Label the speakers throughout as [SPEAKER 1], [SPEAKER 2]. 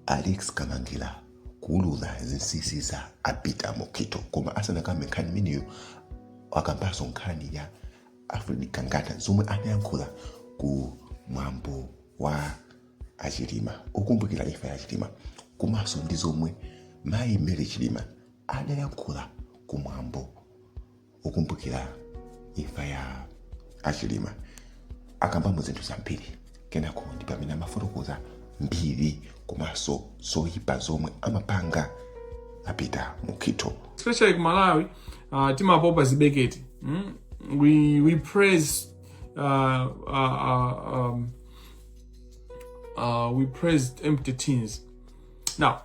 [SPEAKER 1] alex kamangira kuulula zinsinsi za apeter mukhitho koma asanakambe nkhani imeneyo akambanso nkhani ya alfred gangata zomwe anayankhula ku mwambo wa achilima okumbukira imfa ya chilima komanso ndi zomwe mayi mary chilima adayankhula ku mwambo okumbukira imfa ya achilima akambamo zinthu zambiri kenako ndi pamene amafotokoza mbiri komanso zoyipa zomwe amapanga apeter mukhitho especially kumalawi uh, timapopa zibeketi mm? we, we praise uh, uh, uh, um, uh, we praise empty tins now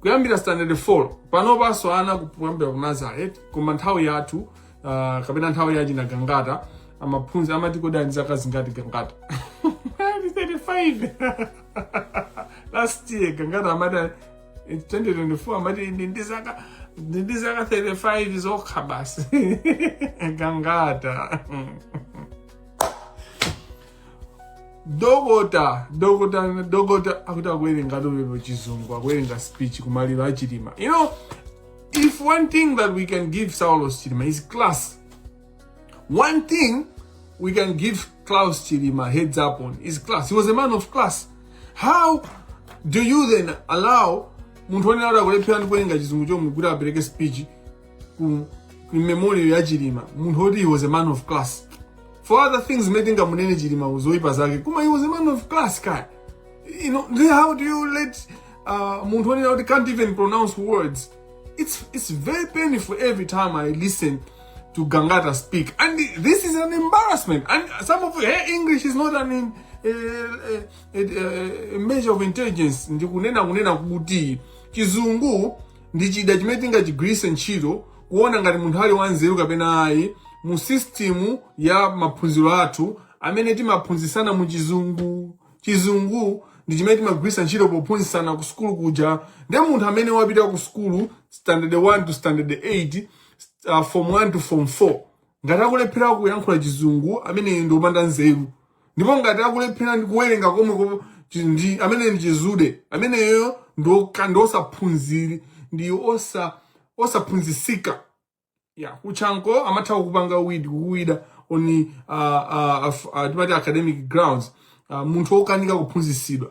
[SPEAKER 1] kuyambira standard 4 panopanso ana kuyambira ku nursery koma nthawi yathu uh, kapena nthawi ya achina gangata amaphunzi amati kodi ali ndi zaka zingati gangata Ndi 35 last year gangata amati ali- in 2024 amati ndi ndi zaka ndi ndi zaka 35 zokha basi gangata dokota dokota dokota akuti akuwerenga lerolo chizungu akuwerenga speech kumaliro a achilima you know if one thing that we can give saulos chilima is class one thing we can give klaus chilima heads up on is class he was a man of class how do you then allow munthu onena kuti akulephera ndi kuwerenga chizungu chomwe kuti apereke speech ku in memorial ya chilima munthu woti he was a man of class for other things zimene tingamunene chilima uzoyipa zake koma he was a man of class kaya you know then how do you let uh, munthu onena kuti can't even pronounce words it's, it's very painful every time i listen to gangata speak and this is an embarrassment and some of her english is not an in, a, a, a, a measure of intelligence ndikunena kunena kuti chizungu ndi chida chimene tingachigwiritse ntchito kuona ngati munthu ali wanzeru kapena ayi mu system ya maphunziro athu amene timaphunzitsana mu chizungu chizungu ndi chimene timagwiritsa ntchito pophunzitsana ku sukulu kuja ndiye munthu amene wapita ku sukulu standard 1 to standard 8 uh, form 1 to form 4 ngati akulephera kuyankhula chizungu ameneyo ndi opanda nzeru ndipo ngati akulephera ndi kuwerenga komwe ko- chi- ndi ameneyo ndi chidzude ameneyo ndi oka- ndi osaphunziri ndi osa osaphunzisika ya ku chanco amatha kupanga weed kuwida on uh, uh, uh, timati academic grounds uh, munthu okanika kuphunzisidwa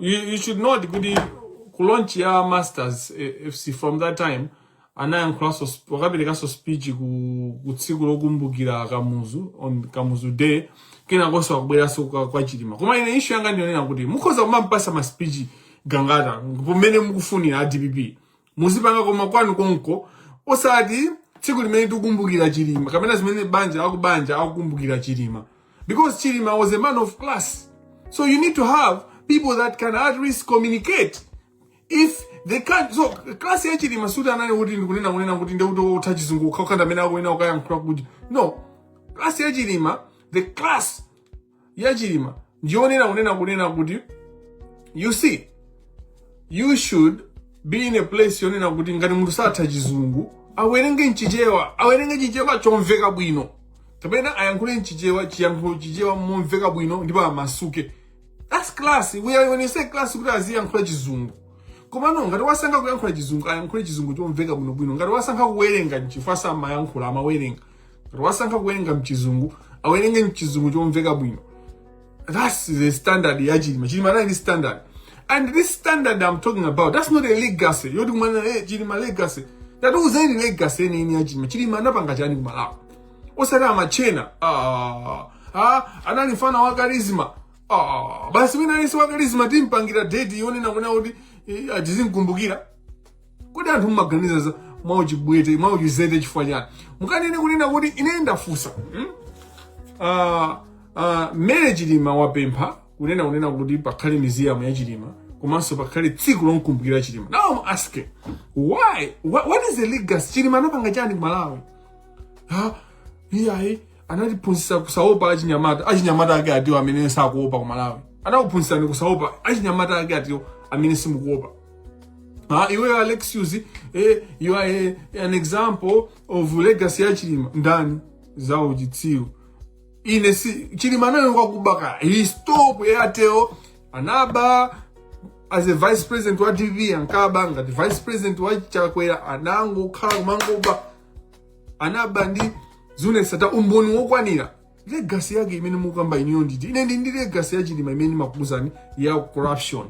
[SPEAKER 1] you, you should note kuti ku launch ya masters eh, fc from that time anayankhulanso sp- wakaperekanso speech ku, ku tsiku lokumbukira kamuzu on kamuzu day kenakonso wabweranso kwa, kwa chilima koma ine issue yanga ndiyonena kuti mukhoza kumampasa ma speech gangata pamene mukufunira a dpp muzipanga koma kwanu konko osati tsiku limene tikukumbukira chilima kapena zimene banja akubanja akukumbukira chilima, because chilima was a man of class so you need to have people that can at least communicate if they can't so class ya chilima sikuti anali kuti ndikunena kunena kuti ndekuti utha chizungu ukhaukhanda amene akunena ukayankhula kuti no class ya chilima the class ya chilima ndiyonena kunena kunena kuti you see, you should be in a place yonena kuti ngati munthu satha chizungu awerenge mchichewa awerenge chichewa chomveka bwino kapena ayankhule mchichewa ayankhule chichewa momveka bwino ndipo amasuke that's class we are when you say class kuti aziyankhula chizungu komano ngati wasankha kuyankhula chizungu ayankhule chizungu chomveka bwinobwino ngati wasankha kuwerenga nchifukwa samayankhula amawerenga ngati wasankha kuwerenga mchizungu awerenge mchizungu chomveka bwino that's the standard ya chilima chilima anali ndi standard and this standard i'm talking about that's not a legacy yoti kumana eh, chilima legacy tatiuzeni legacy yeniyeni ya chilima chilima anapanga chani ku malawi osati amachena ah, ah, anali mfana wa karizma ah, basi wina aliyense wa karizma timpangira date yonena kunena kuti eh, tizimkumbukira kodi anthu mmaganiza za- mwauchimbwete mwauchizete chifukwa chani mukanene kunena kuti ine ndafunsa hmm? Ah, ah, mary chilima wapempha kunena kunena kuti pakhale miziyamu ya chilima komanso pakhale tsiku lomkumbukira chilima now I'm asking why what, what is the legacy chilima anapanga chani ku malawi ha iyayi anatiphunzitsa kusaopa achinyamata achinyamata ake atiwo amene sakuopa ku malawi anakuphunzitsani kusaopa achinyamata ake atiwo amene simukuopa Ah, iwe alex uzi eh, you are eh, an example of legacy ya chilima ndani za uchitsiru ine si chilima anayo kwakubako he stole ku airtel anaba as a vice president wa dpp ankaba ngati vice president wa chakwera anangokhala kumangoba anaba ndi zuneth sattar umboni wokwanira legasi yake imene mukamba inuyo ndi iti ine ndi ndi legasi ya chilima imene ndimakuuzani ya corruption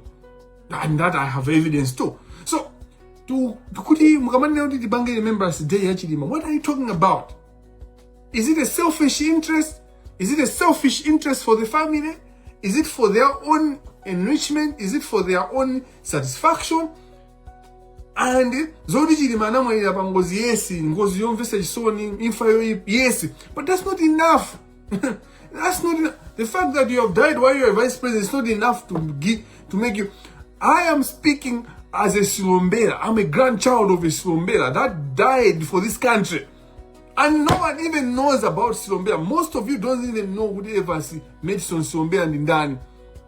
[SPEAKER 1] and that i have evidence too so ndiye kuti mukamanena kuti tipange remembrance day ya chilima what are you talking about is it a selfish interest is it a selfish interest for the family is it for their own enrichment is it for their own satisfaction and zoti chilima anamwalira pa ngozi yes ngozi yomvesa chisoni imfa yoyipa yes but that's not enough that's not enough. the fact that you have died while you are vice president is not enough to give, to make you i am speaking as a silombera i'm a grandchild of a silombera that died for this country and no one even knows about silombera most of you don't even know kuti evasi medison silombera ndi ndani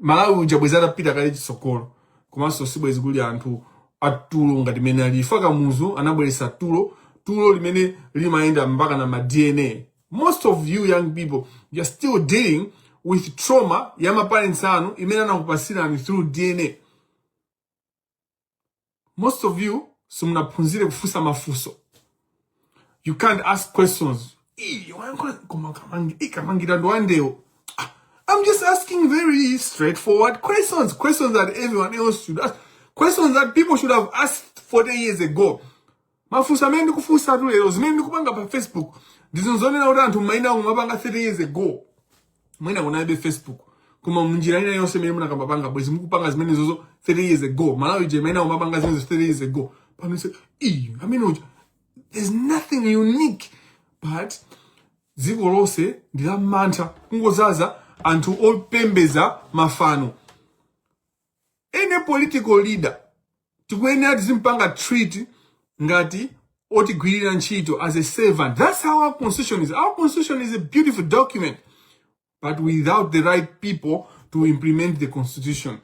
[SPEAKER 1] malawi uja bwezi atapita kale chitsogolo komanso sibwezi kuli anthu atulo ngati mmene alili ife kamuzu anabweretsa tulo tulo limene limayenda mpaka na ma dna most of you young people you're still dealing with trauma ya maparents anu imene anakupasirani through dna most of you simunaphunzire kufunsa mafunso you can't ask questions Ii, wayankhula koma kamangi- ii, kamangira ndo wandewo Ah, i'm just asking very straightforward questions questions that everyone else should ask questions that people should have asked 40 years ago Mafunso amene ndikufunsa anthu lero zimene ndikupanga pa Facebook ndi zinthu zonena kuti anthu m'mayina awo mwapanga 30 years ago mwina kunalibe Facebook koma munjira ina yonse imene munaka- mumapanga bwezi mukupanga zimenezozo 30 years ago Malawi je imene umapanga zimene 30 years ago pano is the same amene uja there's nothing unique but dziko lonse ndi la mantha kungozaza anthu opembeza mafano any political leader tikuyenera tizimpanga treat ngati otigwirira ntchito as a servant that's how our constitution is our constitution is a beautiful document but without the right people to implement the constitution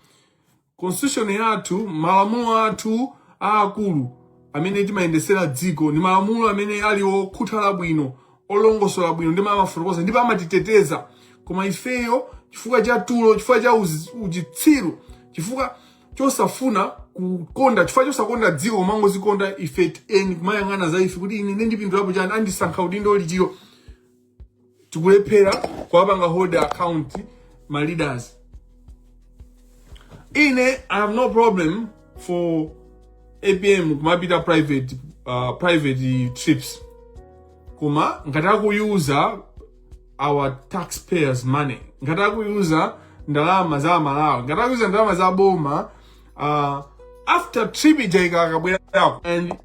[SPEAKER 1] constitution yathu malamulo athu aakulu amene timayendesera dziko ndi malamulo amene ali okhuthala bwino olongosola bwino ndipo amafotokoza ndipo amatiteteza koma ifeyo chifukwa cha tulo chifukwa cha uzi- uchitsiru chifukwa chosafuna kukonda chifukwa chosakonda dziko koma kungozikonda ife eni kumayang'ana za ife kuti ine ndipindulapo chani andisankha udindo uti tikulephera kuwapanga hold account ma leaders ine i have no problem for apm kumapita private uh, private trips koma ngati akuyuza our taxpayers money ngati akuyuza ndalama za aMalawi ngati akuyuza ndalama za boma uh, after trip ija akakabwerako and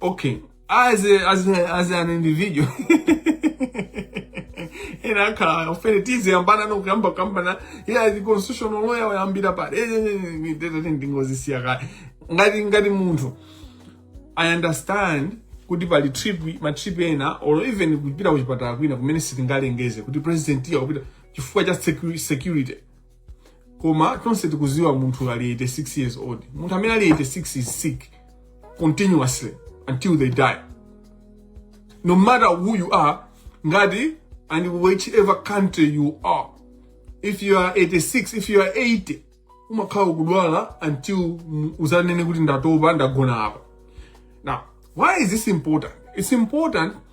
[SPEAKER 1] Okay, as a, as a, as an individual ena akhala ofene tiziyambana nokuyamba kuyambana iye ali constitutional lawyer wayambira pale Eh, eh, eh, eh, tete ndingozisiya kale ngati ngati munthu i understand kuti pali trip ma trip ena or even kupita kuchipatala kwina kumene sitingalengeze kuti president akupita chifukwa cha secu- security koma tonse tikuziwa munthu ali 86 years old munthu amene ali 86 is sick continuously until they die no matter who you are ngati and whichever country you are if you are 86 if you are 80 umakhala ukudwala until uzanene kuti ndatopa ndagona apa now why is this important it's important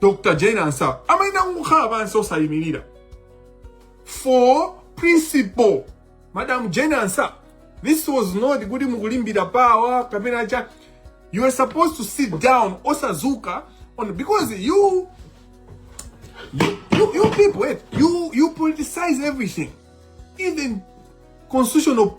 [SPEAKER 1] dr jane ansah amayina kukhala pansi osayimirira for principle madam jane ansah this was not kuti mukulimbira power kapena cha you are supposed to sit down osazuka on because you you, you, you people wait, you you politicize everything even constitutional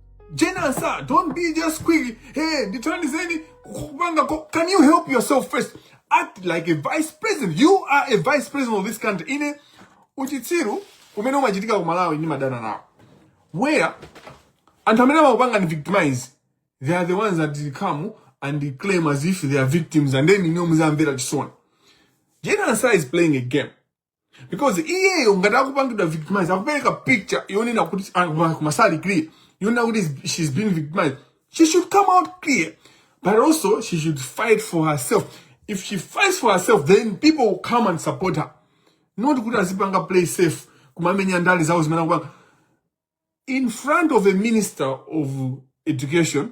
[SPEAKER 1] General sir, don't be just quick. Hey, ndithandizeni kupanga ko- Can you help yourself first? Act like a vice president. You are a vice president of this country. Ine uchitsiru umene umachitika ku Malawi ndi madana nawo. Where anthu amene amakupanga ni victimize they are the ones that come and claim as if they are victims and then you know muzamvera chisoni. General sir is playing a game. because iyeyo ngati akupangidwa victimized akupereka picture yonena kuti ah, kuma- kumamasula clear yonena kuti is- she's being victimized she should come out clear but also she should fight for herself if she fights for herself then people will come and support her not kuti azipanga play safe kumamenya ndale zawo zimene akupanga in front of a minister of education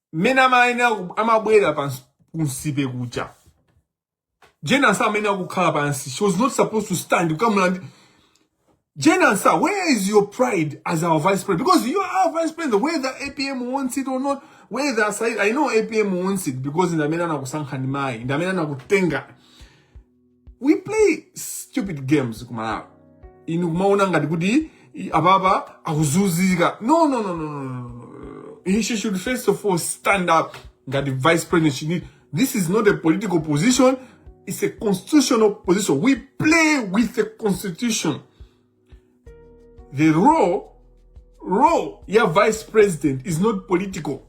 [SPEAKER 1] mmene amayenera ku- amabwera ku Nsipe kuja Jane Ansah amayenera kukhala pansi she was not supposed to stand kukamulandira Jane Ansah, where is your pride as our vice president? Because you are our vice president, whether APM wants it or not, whether Said, I know APM wants it because ndi amene anakusankhani mayi, ndi amene anakutenga we play stupid games ku malawi inu kumaona ngati kuti i- apapa akuzunzika no no no no no, no no he she should first of all stand up ngati vice president she need this is not a political position it's a constitutional position we play with the constitution the role role ya vice president is not political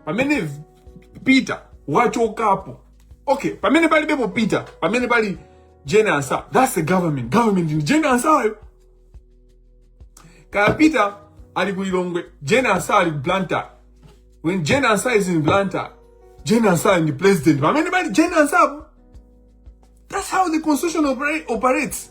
[SPEAKER 1] pamene peter wachokapo okay pamene palibepo peter pamene pali jane ansah that's the government government ndi jane ansayo kaya peter ali ku lilongwe jane ansah ali ku blantyre when jane ansah is in blantyre jane ansah ndi president pamene pali jane ansapo that's how the constitution opera- operates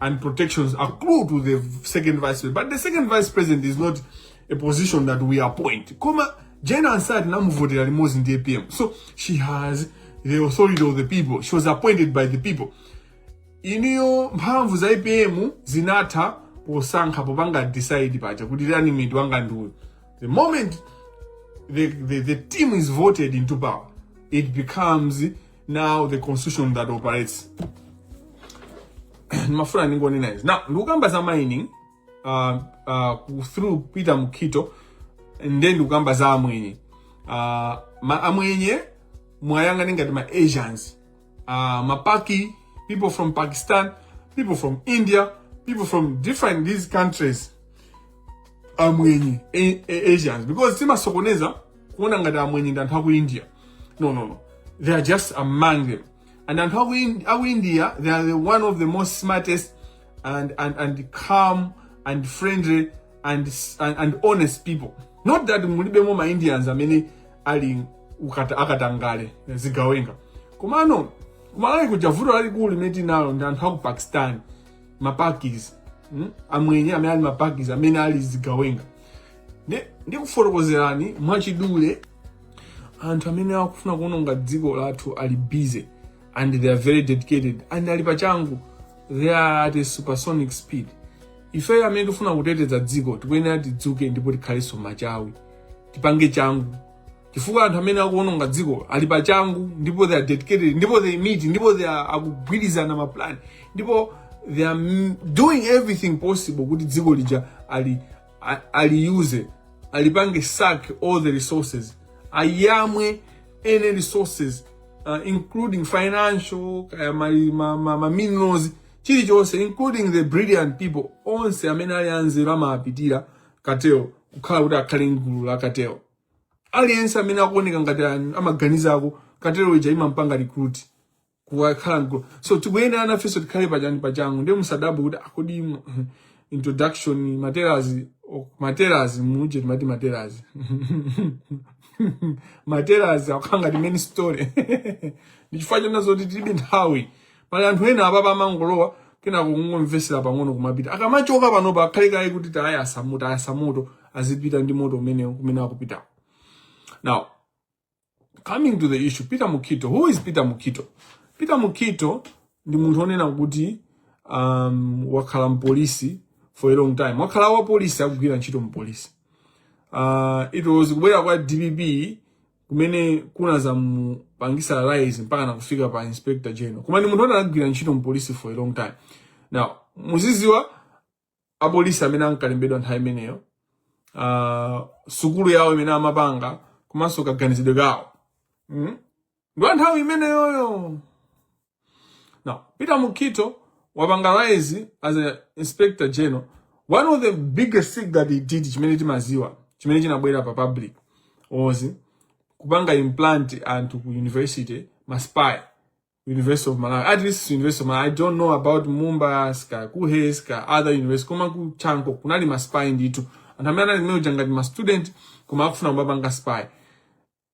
[SPEAKER 1] and protections accrue to the second vice president. But the second vice president is not a position that we appoint. Koma Jane Ansah namuvotera limodzi ndi APM. So she has the authority of the people. She was appointed by the people. Iniyo mphamvu za APM zinatha posankha popanga decide paja kuti running mate wanga ndi uyu. The moment the, the, the team is voted into power, it becomes now the constitution that operates ndimafuna ndingonena izi now ndikukamba za mining uh, uh, through peter mukito nde ndikukamba za amwenye uh, ma, amwenye mwayang'ane ngati ma asians uh, mapaki people from pakistan people from india people from different these countries amwenye a- a- asians because timasokoneza kuona ngati amwenye ndi anthu aku india no no no they are just among them and anthu aku, in, aku india they are the one of the most smartest and, and, and calm and friendly and, s- and, and honest people not that mulibemo ma indians amene ali ukata- akatangale zigawenga komano kumalawi kuja vuto lalikulu limene tinalo ndi anthu aku pakistan mapakis mm? amwenye amene ali mapakis amene ali zigawenga Ndi- ndikufotokozerani mwachidule anthu amene akufuna kuononga dziko lathu ali busy and they are very dedicated and ali pachangu they are at a supersonic speed ifeyo amene tifuna kuteteza dziko tikuyenera tidzuke ndipo tikhalenso machawi tipange changu chifukwa anthu amene akuononga dziko ali pa changu ndipo they are dedicated ndipo they meet ndipo they are akugwirizana ma plan ndipo they are m- doing everything possible kuti dziko lija ali a- aliuse alipange suck all the resources ayamwe any resources uh, including financial kaya ma, ma, ma, ma minerals chilichonse including the brilliant people onse amene ali anzeru amapitira cartel kukhala kuti akhale mgulu la cartel aliyense amene akuoneka ngati an- amaganizako cartel ija imampanga recruit kukakhala mgulu so tikuyenera nafenso tikhale pachani pachangu ndiye musadabwe kuti kodi im- introduction ma trailers oh, ma trailers muja timati ma trailers ma trailers akukhala ngati main story ndichifukwa chonena zoti tilibe nthawi pali anthu ena apapa amangolowa kenako kungomvesera pang'ono kumapita akamachoka panopa akhale kaye kuti tayasa moto tayasa moto azipita ndi moto umenewo kumene akupitawo now coming to the issue peter mukito who is peter mukito peter mukito ndi munthu onena kuti um, wakhala mpolisi for a long time wakhala wapolisi akugwira ntchito mpolisi uh, it was kubwera kwa dpp kumene kunazamupangisa rise mpaka nakufika pa inspector general koma ni munthu oti anagwira ntchito mpolisi for a long time now muziziwa apolisi amene ankalembedwa nthawi imeneyo uh, sukulu yawo imene amapanga komanso kaganizidwe kawo mm? ndi wa nthawi imeneyoyo Now, Peter Mukhito wapanga rise, as an inspector general, one of the biggest things that he did, chimene timaziwa, chimene chinabwera pa public, was kupanga implant ku university, ma spy, University of Malawi, at least University of Malawi. I don't know about Bunda, kaya, Kuhe, kaya, other universities, koma ku Chanko, kunali ma spy nditu. Anthu amene anali mmenemo ngati ma student, koma akufuna kumapanga spy.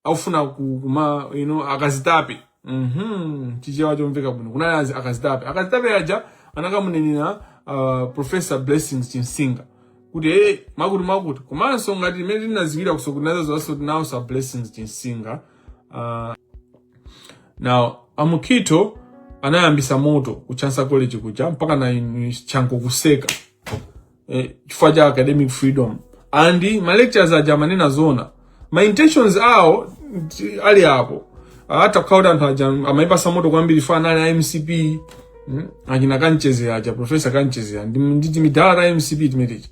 [SPEAKER 1] akufuna kuma you know, akazitape mm -hmm. chichewa chomveka bwino kunali azi akazitape akazitape aja anakamunenera uh, professor blessings chinsinga kuti hey, mwakuti mwakuti komanso ngati mmene tinaziwira kusokoneza zonse tinawuza blessings chinsinga uh, now a Mukhito anayambisa moto ku chancellor college kuja mpakana chanko kuseka eh, chifukwa cha academic freedom and ma lecturers aja amanena zona ma intentions awo ali apo ngakhale kuti anthu aja amaipatsa moto kwambiri chifukwa anali a mcp mm, achina kanchedzera aja professor kanchedzera ndi timadala ta mcp timeneti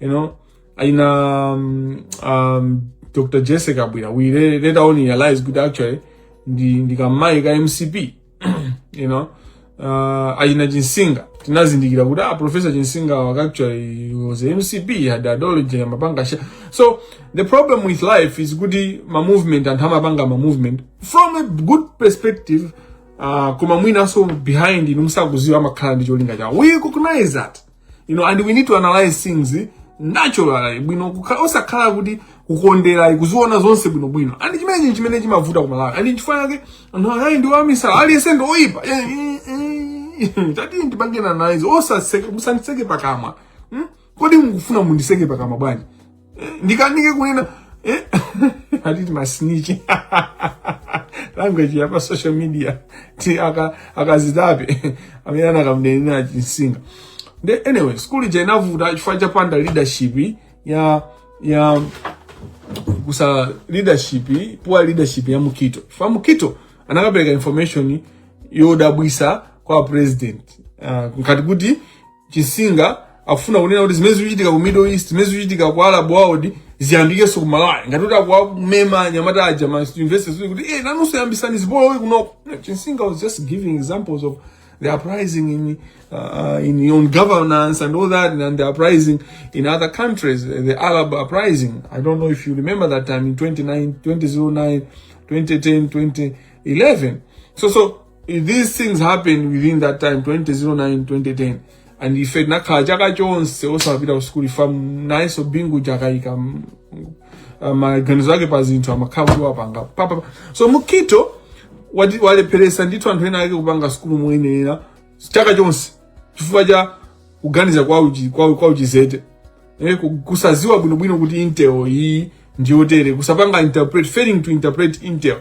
[SPEAKER 1] you know aina um, um, dr jessie kabwila we later on realized kuti actually ndi ndi kamayi ka mcp you know uh, achina chinsinga tinazindikira kuti ah professor chinsinga was actually he was a mcp he had ideology amapanga sha so the problem with life is kuti ma movement anthu amapanga ma movement from a good perspective uh, koma mwinaso behind inu musakuziwa amakhala ndi cholinga chawo we recognize that you know and we need to analyze things naturally bwino kukhala osakhala kuti kukondera kuziona zonse bwino bwino and chimene chinthu chimene chimavuta kumalawi and chifukwa chake anthu akayi ndi wamisala aliyense ndi woyipa Eh, eh, eh. tati ndipange nazo osaseke musanditseke pakamwa Hmm? kodi mukufuna munditseke pakamwa bwanji ndikanike kunena eh? ati ndi ma snitch language yapa social media ti aka akazitape amene anakamunenera chinsinga nde anyway school ija inavuta chifukwa cha kupanda leadership ya ya kusowa leadership poor leadership ya mukhito chifukwa mukhito anakapereka information yodabwitsa kwa president uh, ngati kuti Chinsinga akufuna kunena kuti zimene zikuchitika ku Middle East, zimene zikuchitika ku Arab world ziyambikenso ku Malawi. Ngati kuti akuwamema anyamata aja ma universities kuti kuti eh nanunso yambisani zipolowe kunoko. No, Chinsinga was just giving examples of the uprising in uh, in on governance and all that and the uprising in other countries, the Arab uprising. I don't know if you remember that time in 29, 2009, 2010, 2011. So so these things happen within that time 2009 2010 and ife tinakhala chaka chonse osapita ku sukulu chifukwa nayenso bingu akaika maganizo ake pa zinthu amakhala kuti wapanga basi mutharika wati- walepheresa ndithu anthu ena ake kupanga sukulu moyenera chaka chonse chifukwa cha kuganiza kwa uchi- kwa- kwa uchizete eh, ku- kusaziwa bwinobwino kuti intel iyi ndi yotere kusapanga interpret failing to interpret intel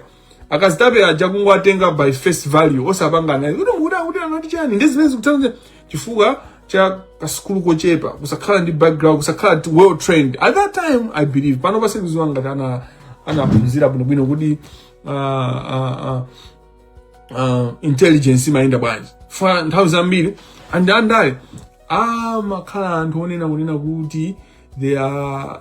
[SPEAKER 1] akazitape aja kungowatenga by face value osapanga naye kuti mukuti akuti anati chani ndi zimene zikusonyeza chifukwa cha kasukulu kochepa kusakhala ndi background kusakhala ti- well trained at that time i believe pano sindikuziwa ngati ana anaphunzira bwinobwino kuti uh, uh, uh, uh, intelligence imayenda bwanji chifukwa nthawi zambiri a andale amakhala anthu onena kunena kuti they are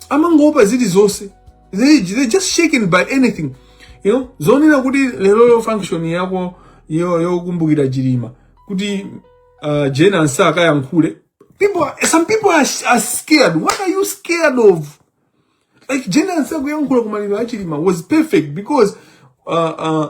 [SPEAKER 1] amangoopa zilizonse they, they just shaken by anything you know zonena kuti lero lo function yako yo yokumbukira chilima kuti uh, jane ansa akayankhule people are, some people are, are scared what are you scared of like jane ansa kuyankhula kumaliro a chilima was perfect because uh, uh,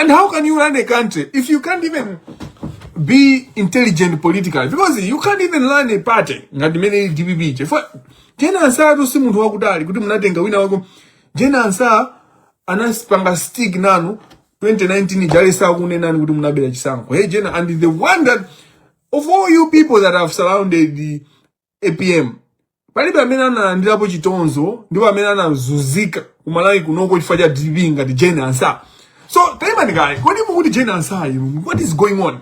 [SPEAKER 1] And how can you run a country if you can't even be intelligent politically? Because you can't even run a party. Ngati mene DPP ije. For Jena Ansah tu si muntu wakudali. Kuti mnatenga wina wako. Jena Ansah anasipanga stick nanu. 2019 ijali saa kune nani kuti mnabela chisango. Hey Jena, and the one that, of all you people that have surrounded the apm palibe amene analandirapo chitonzo ndipo amene anazunzika ku malawi kunoko chifukwa cha dpp ngati jane ansah so taimani kaye kodi mukuti jane ansah inu what is going on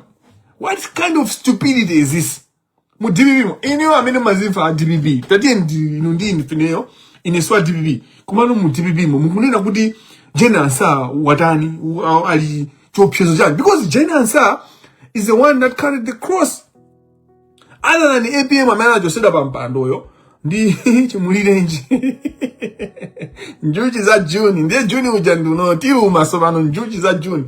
[SPEAKER 1] what kind of stupidity is this mu dpp mo ineyo amene mumazimva a dpp tatiyeni ndi- inu ndi ine chifukwa ineyo ine si wa dpp komano mu dpp mo mukunena kuti jane ansah watani u- a- ali chiopsezo chani because jane ansah is the one that carried the cross other than apm amene anachosedwa pa mpandoyo ndi chimulirenji njuchi za juni ndiye juni uja njuchi zotiluma tsopano njuchi za juni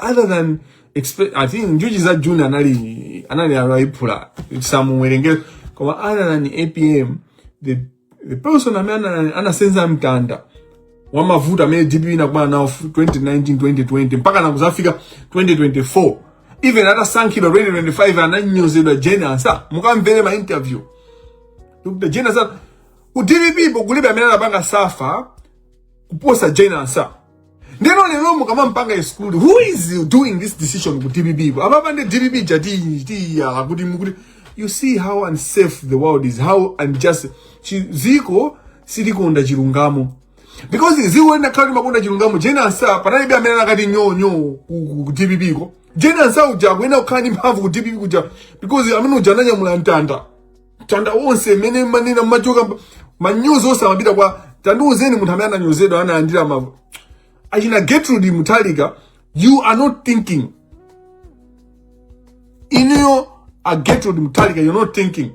[SPEAKER 1] other than expe- i think njuchi za juni anali anali layiphula sitimuwerengera koma other than apm the the person amene ana- anasenza mtanda wa mavuto amene dpp inakumana nawo fu- 2019 2020 mpaka kuzafika 2024 even atasankhidwa 2025 ananyozedwa jane ansah mukamvere ma interview a jane ansah ku dpp ko kulibe amene anapanga suffer kuposa jane ansah ndiyeno lero mukamampanga exclude who is doing this decision ku dpp ko apapa ndi dpp jatiyala kuti mukuti you see how unfair the world is how unjust Chi- ziko silikonda chilungamo because ziko likanakhala limakonda chilungamo jane ansah panalibe amene akanati nyonyo ku ku- ku dpp ko jane ansah uja akuyenera kukhala ndi mphamvu ku dpp kuja because amene uja ananyamula mtanda ntanda wonse umene mumanena machoka manyuzi onse amapita kwa tandiuzeni munthu amene ananyozedwa analandira achina Gertrude Mutharika you are not thinking inuyo a Gertrude Mutharika you're not thinking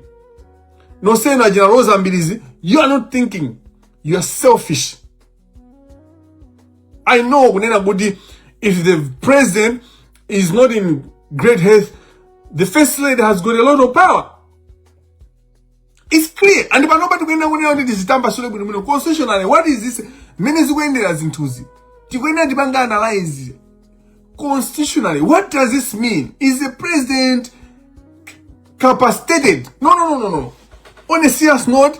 [SPEAKER 1] nosenu achina Rosa Mbilizi you are not thinking you are selfish i know kunena kuti if the president is not in great health the first lady has got a lot of power it's clear and panopa tikuyenera kunena kuti tizitambasule bwinobwino constitutionally what is this mmene zikuyendera zinthuzi tikuyenera tipange analyze constitutionally what does this mean is the president incapacitated no no no no no on a serious note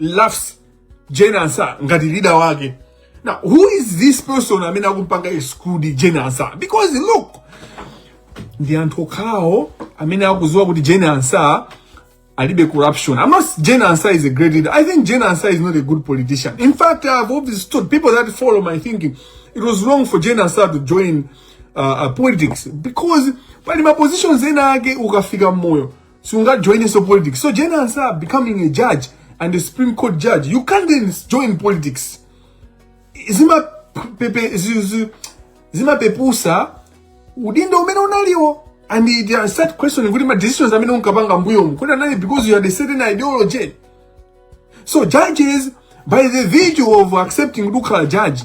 [SPEAKER 1] laughs Jane Ansah ngati leader wake. Now, who is this person amene akumpanga exclude Jane Ansah? Because look, ndi anthu okhawo amene akuziwa kuti Jane Ansah alibe corruption. I'm not Jane Ansah is a great leader. I think Jane Ansah is not a good politician. In fact, I've always told people that follow my thinking, it was wrong for Jane Ansah to join uh, uh, politics because pali ma positions ena ake ukafika mmoyo siungajoininso politics so jane ansa becoming a judge and a supreme court judge you can't then join politics zimapepe- zi- zi- zimapepusa udindo umene unaliwo and it uh, start questioning kuti ma decisions amene unkapanga mbuyomu kuti anali because you had a certain ideology so judges by the virtue of accepting kuti ukhala judge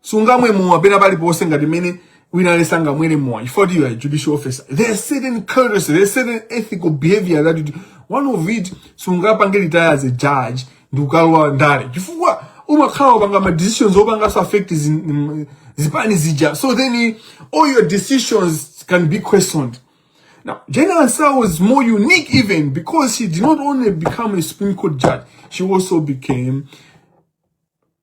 [SPEAKER 1] sungamwe mowa pena paliponse ngati mmene wina aliyense sangamwere mowa chifukwa kuti you are a judicial officer there are certain courtesy there are certain ethical behavior that you do. one of it sungapange retire as a judge ndi kukalowa ndale chifukwa umakhala wapanga ma decisions opanganso affect zi- mm, zipani zija so then eh, all your decisions can be questioned Now, Jane Ansah was more unique even because she did not only become a Supreme Court judge, she also became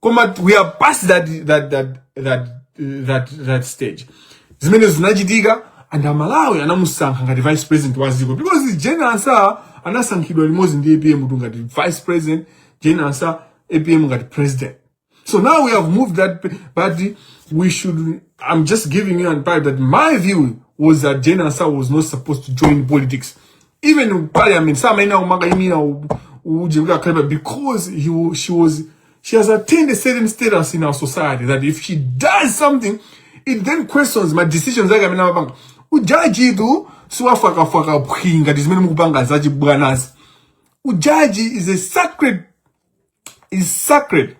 [SPEAKER 1] koma we are past that, that, that, that, that, that stage zimene zinachitika and amalawi anamusankha ngati vice president wa dziko because jane ansah anasankhidwa limodzi ndi apm kuti ngati vice president jane ansah apm ngati president so now we have moved that but we should i'm just giving you an advice that my view was that jane ansah was not supposed to join politics even in parliament samayenera kumakaimira uje kuti akhale because he, wa- she was she has attained a certain status in our society that if she does something it then questions ma decisions ake amene amapanga ujaji tu siwafakafaka phwi ngati zimene mukupanga zachibwanazi ujaji is a sacred is sacred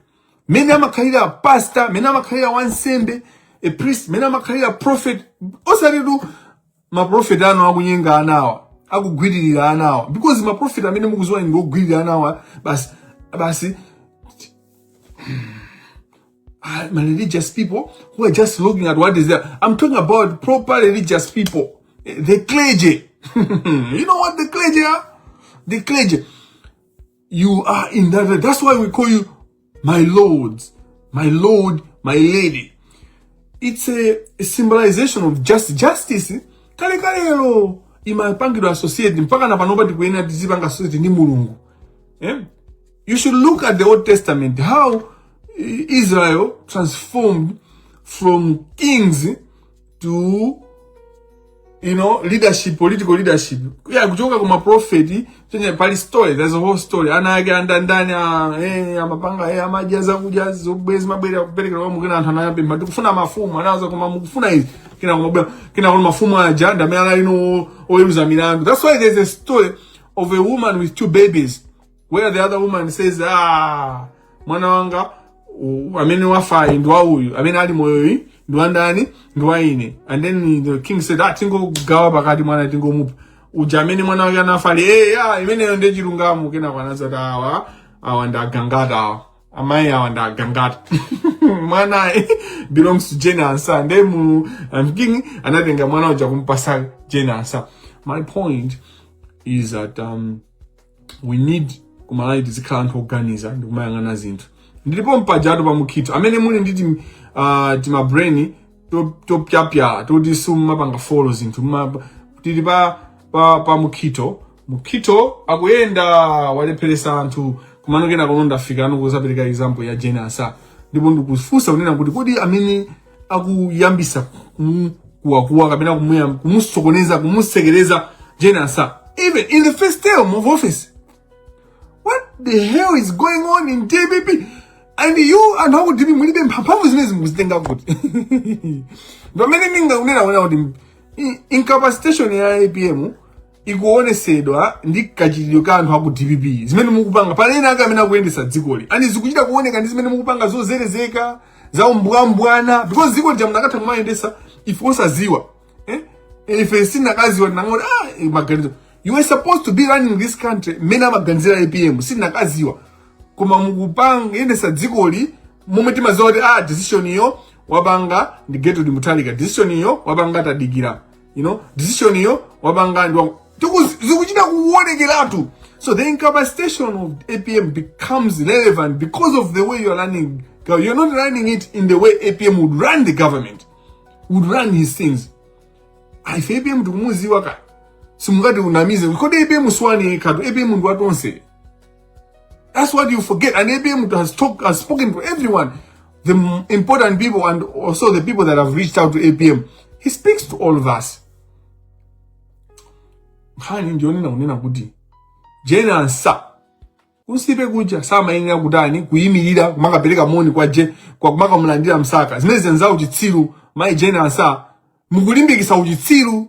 [SPEAKER 1] mene amakhalira a pastor mene amakhalira wansembe a priest mene amakhalira prophet osati tu maprofeti anu akunyenga anawa akugwiririra anawa because maprofeti amene mukudziwa ndi ogwiririra anawa basi basi ah, my religious people who are just looking at what is there. I'm talking about proper religious people, eh, the clergy. you know what the clergy are? The clergy. You are in that. That's why we call you my Lord, my Lord, my Lady. It's a, a symbolization of just justice. Kale kalero imapangidwa associate mpaka na panopa tikuyenera tizipanga associate ndi Mulungu. Eh? You should look at the Old Testament how Israel transformed from kings to you know leadership political leadership yeah kuchoka kuma prophet ndiye pali story there's a whole story ana ake anda ndani a eh amapanga eh amaja za kuja zobwezi mabwera kupereka kwa mukina anthu anayambe matu kufuna mafumu anaanza koma mukufuna izi kina koma bwa- kina koma mafumu ajanda malero ano oyeruza milandu that's why there's a story of a woman with two babies where the other woman says ah mwana wanga u- amene wafayu ndi wa uyu amene ali moyoyu ndi wandani ndi wa ine and then the king said ah tingogawa pakati mwana tingomupha uja amene mwana wake anafa ali hey, ah imeneyo ndiye chilungamo kenako anazati awa awa ndi agangata awa amayi awa ndi agangata mwanayu belongs to Jane Ansah ndiye mu um, king anatenga mwana uja kumpatsa Jane Ansah my point is that um, we need ku Malawi tizikhala anthu oganiza ndi kumayang'ana zinthu ndilipo mpajatu pa mukhitho amene muli ndi tim, uh, timabrain topyapyala to toti simumapanga folo zinthu tili pa, pa, pa mukhitho mukhitho akuyenda walepheretsa anthu koma nonena kuno ndafika pano kudzapereka example ya Jane Ansah ndipo ndikufunsa kunena kuti kodi amene akuyambisa kuwakuwa kapena kumusokoneza kumusekereza Jane Ansah even in the first term of office what the hell is going on in dpp and you anthu aku dpp mulibe mpha mphamvu zimenezi mukuzitenga kuti pamene ndikunena kuti incapacitation ya apm ikuonetsedwa ndi kachitidwe ka anthu aku dpp zimene mukupanga pali ena ake amene akuyendetsa dzikoli and zikuchita kuoneka ndi zimene mukupanga zozerezeka za umbwambwambwa because dzikoli chabe munakatha kumayendetsa ife osadziwa eh? ife sitinakadziwa tinakangoti ah, eh, maganizo you were supposed to be running this country mmene amaganizira apm sitinakadziwa koma mukupanga yendetsa dzikoli momwe timadziwa kuti ah, decision iyo wapanga ndi Gertrude Mutharika decision iyo wapanga tadikira you know decision iyo wapanga ndi zikuchita kuonekeratu so the incapacitation of apm becomes relevant because of the way you're running you're not running it in the way apm would run the government would run his things ife apm tikumudziwa kaya simungatinamize kodi apm si wanu nokha apm ndi watonse That's what you forget. And APM has, talk, has spoken to everyone, the important people and also the people that have reached out to APM. He speaks to all of us. nkhani ndiyonena kunena kuti Jane Ansah ku stage kuja samayenera kutani kuyimirira kumakapereka moni kwa je kwa kumakamulandira msaka zimene zenza uchitsiru mayi Jane Ansah mukulimbikitsa uchitsiru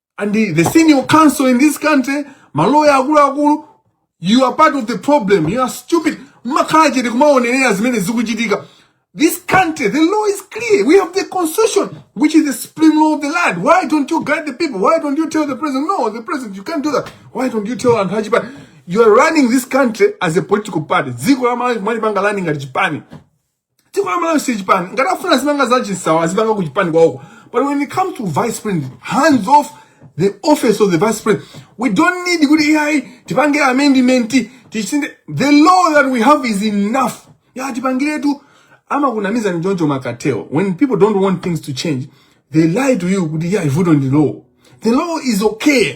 [SPEAKER 1] and the, the senior counsel in this country maloya akuluakulu you are part of the problem you are stupid mmakhala chete kumaonerera zimene zikuchitika this country the law is clear we have the constitution which is the supreme law of the land why don't you guide the people why don't you tell the president no the president you can't do that why don't you tell anthu achipani you are running this country as a political party dziko la malawi mwalipanga lani ngati chipani dziko la malawi si chipani ngati afuna azipanga za chinsawa azipanga ku chipani kwawoko but when it comes to vice president hands off the office of the vice president we don't need kuti ayi tipange amendment tisinthe the law that we have is enough ya tipangiretu amakunamiza ndi choncho mumakatero when people don't want things to change they lie to you kuti ayi vuto ndi law the law is okay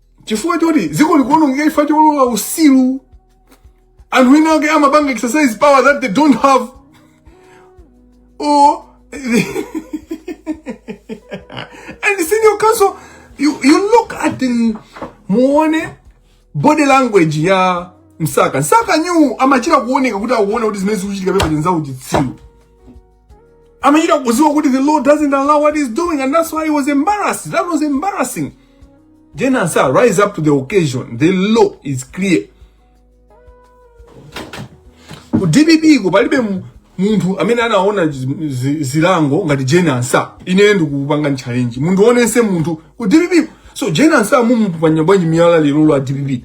[SPEAKER 1] chifukwa choti dziko likuonongeka chifukwa cholola usilu anthu ena ake amapanga exercise power that they don't have or and senior counsel you, you look at the muone body language ya msaka msaka uyu amachira kuoneka kuti akuona kuti zimene zikuchitika mpaka mnzawo chitsiru amachita kuziwa kuti the law doesn't allow what he's doing and that's why he was embarrassed that was embarrassing then answer rise up to the occasion the law is clear ku dpp ku palibe mu- munthu amene anaona zi- zi- zilango ngati jane ansa ine ndikupanga challenge munthu wina aliyense munthu ku dpp so jane ansa mukumuponya bwanji miyala lero a dpp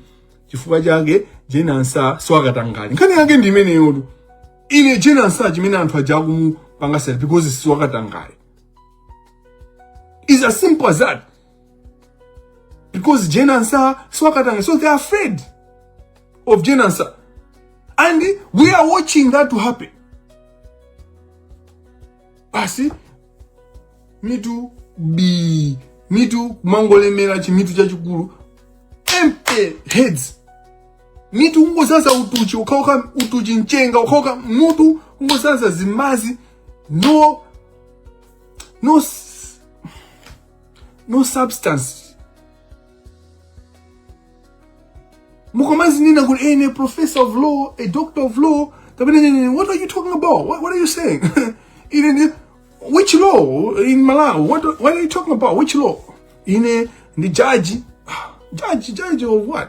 [SPEAKER 1] chifukwa chake jane ansa siwakatangale nkhani yake ndi imeneyotu ine jane ansa chimene anthu aja akumupangira because siwakatangale is as simple as that because jane ansa siwakatangale so they are afraid of jane ansa and we are watching that to happen basi mitu bi mitu mangolemera chimitu chachikulu empty heads mitu kungozaza utuchi ukachoka utuchi mchenga ukachoka mutu kungozaza zimazi no no s- no substance nkumazinena kuti ine professor of law a doctor of law kapena ndine what are you talking about what, what are you saying ine ndi which law in malawi what, what are you talking about which law ine ndi jaji jaji jaji of what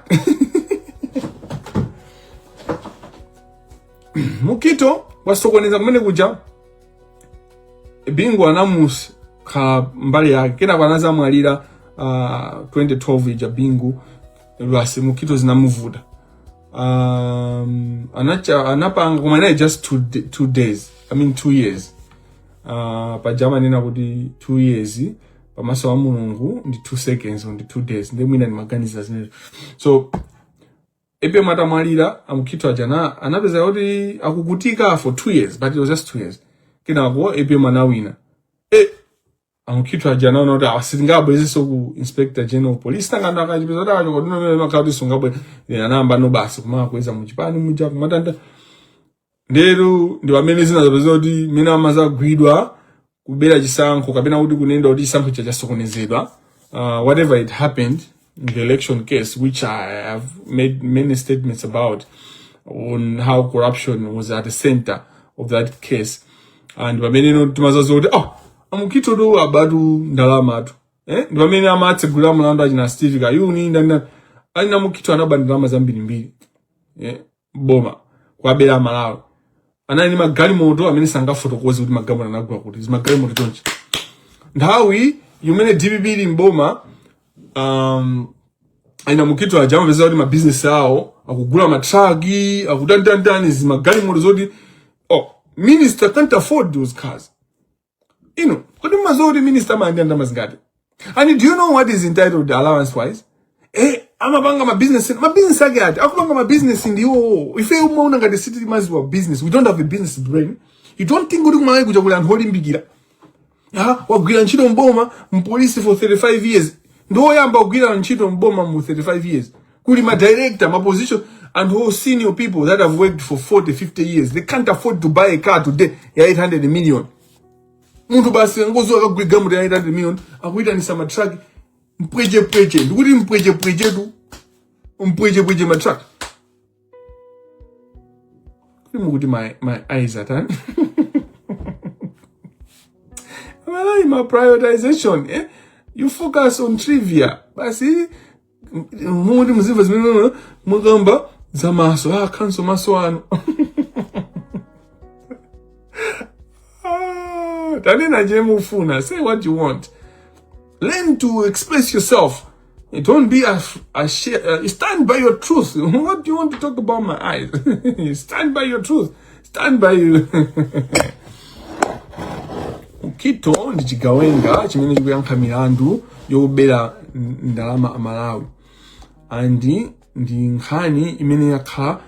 [SPEAKER 1] mukito wasokoneza kumene kuja bingu anamus kha mbali yake kenako anazamwalira uh, 2012 ija bingu lwasi mukito zinamuvuta um, anacha anapanga koma inali just two, d- two days i mean two years uh, paja amanena kuti two years pamaso wa mulungu ndi two seconds ndi two days ndi mwina ndimaganiza zimenezo so bingu atamwalira amukhito aja ana- anapeza kuti avutika for two years but it was just two years kenako apm anawina amukhito aja anaona kuti asabwererenso ku inspector general of police tangoona akachipeza kuti akachoka kuti nomene makati sungabwe anayamba no basi kumakwezedwa muchipani muja kumatani ndiyeno ndi pamene zinazapeza kuti mene amazagwidwa kubera chisankho kapena kuti kunena kuti chisankho chasokonezedwa uh, whatever it happened in the election case, which I have made many statements about on how corruption was at the center of that case. And pameneno timadzadziwa kuti oh amukito tu abatu ndalama tu. Eh? Ndi pamene amatsegula mlandu achina Steve Kayuni ndani ndani. Aa amukito anaba ndalama zambiri mbiri. Eh? boma kuwabera amalawi anali ndi magalimoto amene sangafotokoze kuti magalimoto anagula kuti zimagalimoto chonchi nthawi imene dpp ili mboma um, achina mukito aja amapeza kuti mabizinesi awo akugula matraki akutantantani zimagalimoto zoti oh, ministers can't afford those cars inu kodi mumaziwa kuti minista amalandira ndalama zingati and do you know what he's entitled allowance wise eh amapanga mabusiness mabusiness ake ati akupanga mabusiness ndiwo ife umaona ngati sitili maziwa business we don't have a business brain you don't think kuti kumalawi kuja kuli anthu olimbikira ah wagwira ntchito mboma mpolisi for 35 years ndi woyamba kugwira ntchito mboma mu 35 years kuli ma director ma position anthu senior people that have worked for 40 50 years they can't afford to buy a car today ya 800 million munthu basi tingoziwa akagula galimoto ya 800 million akuyitanisa ma truck mpwechepweche ndikuti mpwechepwechetu mpwechepweche ma truck kuti mukuti my, my eyes atani amalawi ma prioritization eh? you focus on trivia basi mumuti muzimva zimene mukamba za maso ah, kanso maso ano Ah, tanena je mufuna say what you want learn to express yourself don't be a, a share, uh, stand by your truth what do you want to talk about my eyes stand by your truth stand by you mukito ndi chigawenga chimene chikuyankha milandu yobera n- ndalama za amalawi and ndi nkhani imene yakhala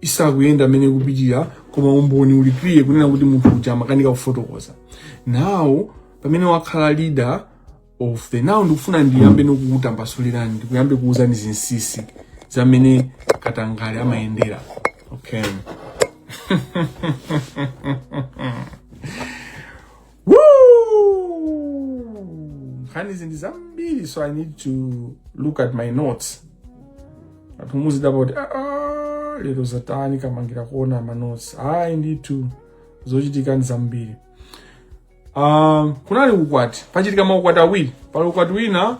[SPEAKER 1] isakuyenda mmene ikupitira koma umboni uli clear kunena kuti munthu uja amakanika kufotokoza nawo pamene wakhala leader of the now ndikufuna ndiyambe ndikukutambasulirani ndikuyambe kuuzani zinsisi zamene katangale amayendera okay nkhanizi ndi zambiri so i need to look at my notes anthu muzidabwa kuti ah, ah, lero zatani kamangira kuona manotes ayi ndithu zochitika ndi zambiri Um, kunali ukwati pachitika maukwati awiri pali ukwati wina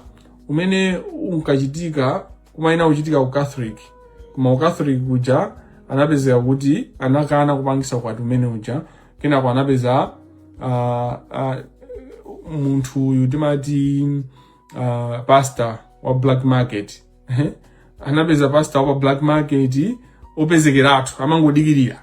[SPEAKER 1] umene unkachitika umayenera kuchitika ku catholic koma ku catholic kuja anapezeka kuti anakana kupangisa ukwati umene uja kenako anapeza uh, uh, munthu uyu timati uh, pastor wa black market anapeza pastor wa pa black market opezekeratu amangodikirira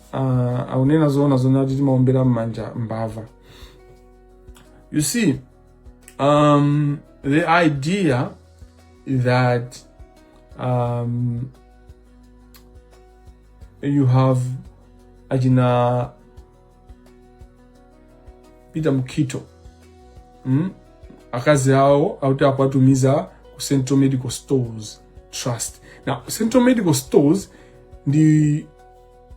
[SPEAKER 1] uh, akunena zoona zoona eti timaombera mmanja mbava you see um, the idea that um, you have achina peter mukito mm? akazi awo akuti akuwatumiza ku central medical stores trust now central medical stores ndi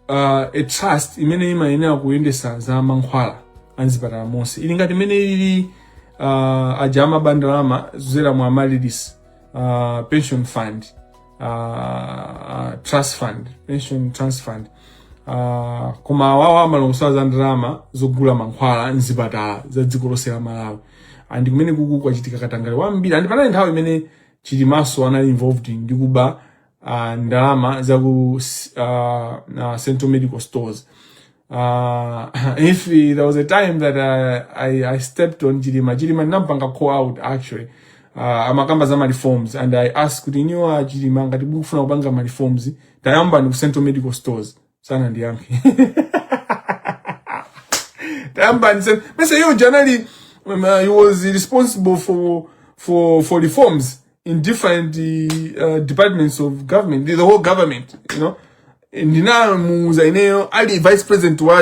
[SPEAKER 1] uh, a trust imene imayenera kuyendesa za mankhwala a m'zipatala monse ili ngati imene ili uh, aja amaba ndalama zija mu amalilis uh, pension fund uh, uh, trust fund pension trust fund uh, koma awawo amalongosola za ndalama zogula mankhwala mzipatala za dziko lonse la malawi and kumene kuku kwachitika katangale wambiri and panali nthawi imene Chilimanso anali involved ndi kuba uh, ndalama za ku uh, uh, central medical stores uh, if there was a time that I, I, I stepped on chilima chilima ndinampanga call out actually uh, amakamba za reforms and i asked kuti inu a chilima ngati mukufuna kupanga reforms tayambani ku central medical stores sanandiyankhe tayambani CMS iyeyo uja anali um, uh, he was responsible for for for reforms in different uh, departments of government the whole government you know ndinamuuza ineyo ali vice president wa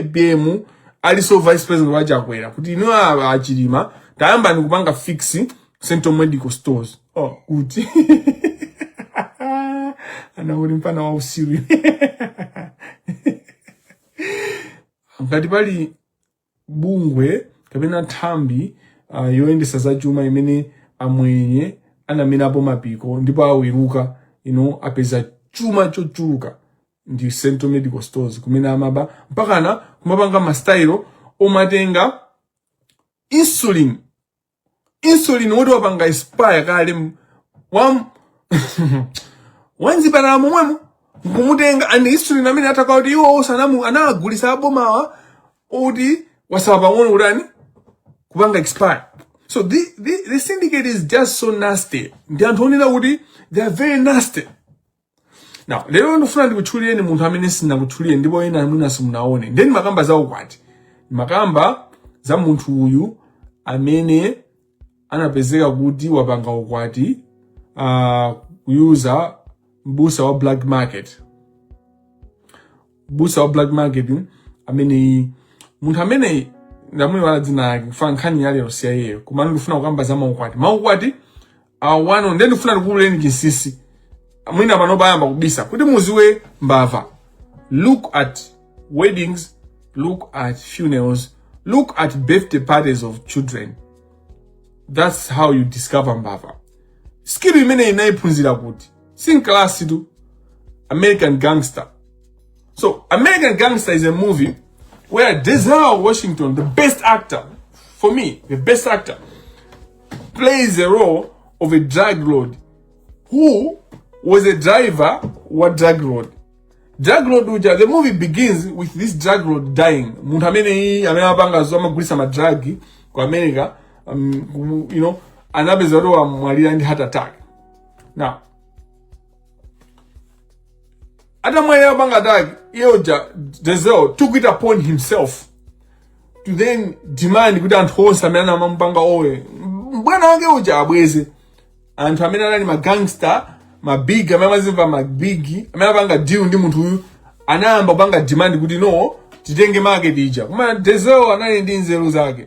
[SPEAKER 1] apm alinso vice president wa chakwera kuti inu achilima tayambani kupanga fix Central Medical Stores. Oh, good. anaulimpa na wausiwi ngati pali bungwe kapena thambi uh, yoyendesa za chuma imene amwenye anamerapo mapiko ndipo awuluka you know, apeza chuma chochuluka ndi central medical stores kumene amaba mpakana kumapanga mastayilo omatenga insulin insulin woti wapanga expire kale m- wam wa m'zipatala momwemo nkumutenga and insulin amene atakhala kuti iwo osanamu anagulisa abomawa oti watsala pang'ono kutani kupanga expire so the, the, the syndicate is just so nasty ndi anthu onena kuti they are very nasty Now, lero ndifuna ndikutchulireni munthu amene sindinakutchulire ndipo ena mwina simunaone. Nde nimakamba za ukwati. Makamba za munthu uyu amene anapezeka kuti wapanga ukwati uh, ku-user mbusa wa black market. Mbusa wa black market amene munthu amene ndamuiwala dzina lake chifukwa nkhani ya lero si ya iyeyo koma ndikufuna kukamba za maukwati. Maukwati awano nde ndifuna ndikuululireni chinsinsi mwina pano ayamba kubisa kuti mudziwe mbava look at weddings look at funerals look at birthday parties of children that's how you discover mbava skill imene ndinayiphunzira kuti sinkalasi tu american gangster so american gangster is a movie where denzel washington the best actor for me the best actor plays the role of a drug lord who was a driver wa drug lord drug lord uja the movie begins with this drug lord dying munthu ameneyi amene amapanga zo amagulitsa madragi ku america um, you know anapeza kuti wamwalira ndi heart attack now atamwalira atapanga attack iye uja denzel took it upon himself to then demand kuti anthu onse amene amamupanga owe mbwana wake uja abweze anthu amene anali magangster mabig amene amazimva mabig amene amapanga deal ndi munthu uyu anayamba kupanga demand kuti no titenge market ija koma denzel anali ndi nzeru zake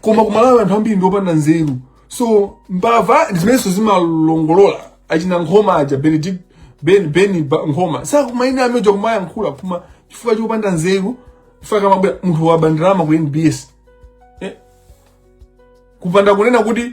[SPEAKER 1] koma kumalawi anthu ambiri ndiopanda nzeru so mbava ndizimenenso zimalongolola achina nkhoma aja benedict ben ben Ba- nkhoma such maina amene aja kumayankhula kuma chifukwa chopanda nzeru chifukwa akamabwera munthu waba ndalama ku nbs eh? kupanda kunena kuti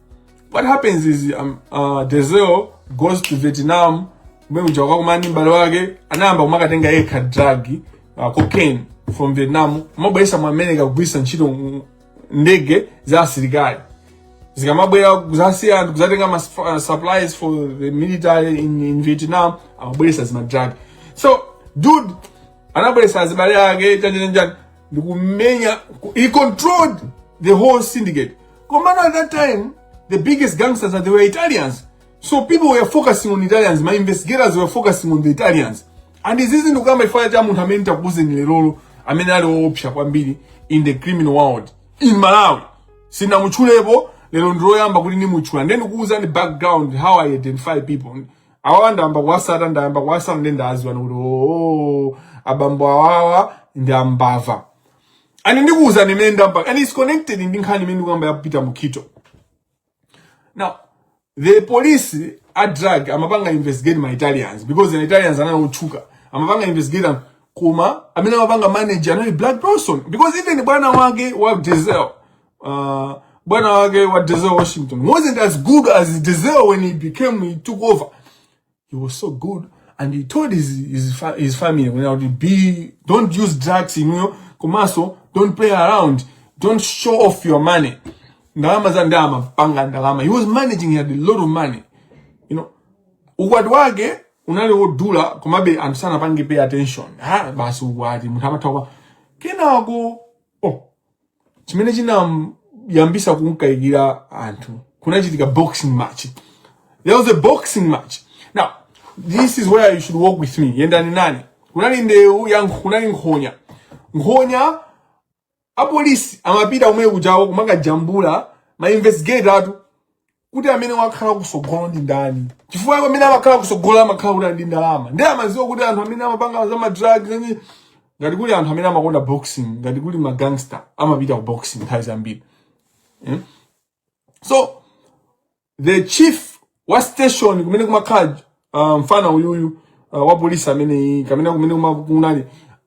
[SPEAKER 1] what happens is um, uh, Denzel goes to Vietnam kumene uja anakakumana mbale wake anayamba kumakatenga yekha drug uh, cocaine from Vietnam kumabweretsa mu America kugwiritsa ntchito ndege za asilikali zikamabwera zasiya anthu kudzatenga ma uh, supplies for the military in, in Vietnam amabweretsa ma drug so dude anabweretsa azibale ake chanichanichani ndikumenya he controlled the whole syndicate koma at that time the biggest gangsters are there were italians so people were focusing on italians ma investigators were focusing on the italians and izizi ndikuyamba chifukwa cha munthu amene nditakuuzeni leroyo amene ali woopsa kwambiri in the criminal world in malawi sindinamutchulepo lero ndiloyamba kuti ndimutchule ndendikuuzani background how i identify people awawa ndayamba kuwatsata ndayamba kuwatsata ndi ndadziwa kuti oo abambo awawa ndi mbava ani ndikuwuzani imene ndamba and its connected ndi nkhani imene ndikuyamba yapita mu kito now the police a drug amapanga investigate ma italians because the italians anali otchuka amapanga investigate am- koma amene amapanga manage anali black person because even bwana wake wa Denzel uh, bwana wake wa Denzel Washington wasn't as good as Denzel when he became he took over he was so good and he told his his, fa his family when I would be don't use drugs you know komanso don't play around don't show off your money ndalama za ndalama panga ndalama he was managing he had a lot of money you know ukwati wake unali wodula komabe anthu sanapange pay attention ha basi ukwati munthu amatha kwa kenako oh chimene chinayambisa kumkayikira anthu kunachitika boxing match there was a boxing match now this is where you should walk with me yendani nane kunali ndewu ya nkh- kunali nkhonya nkhonya apolisi amapita kumene kujawo kumakajambula ma investigator athu kuti amene wakhala kusogolo ndi ndani chifukwa iwo amene amakhala kusogolo amakhala kuti ali ndi ndalama ndiye amadziwa kuti anthu amene amapanga za madrugs and ngati kuli anthu amene amakonda boxing ngati kuli magangster amapita ku boxing nthawi zambiri eh? so the chief wa station kumene kumakhala uh, mfana uyuyu uh, wa polisi amene kamene kumene kunali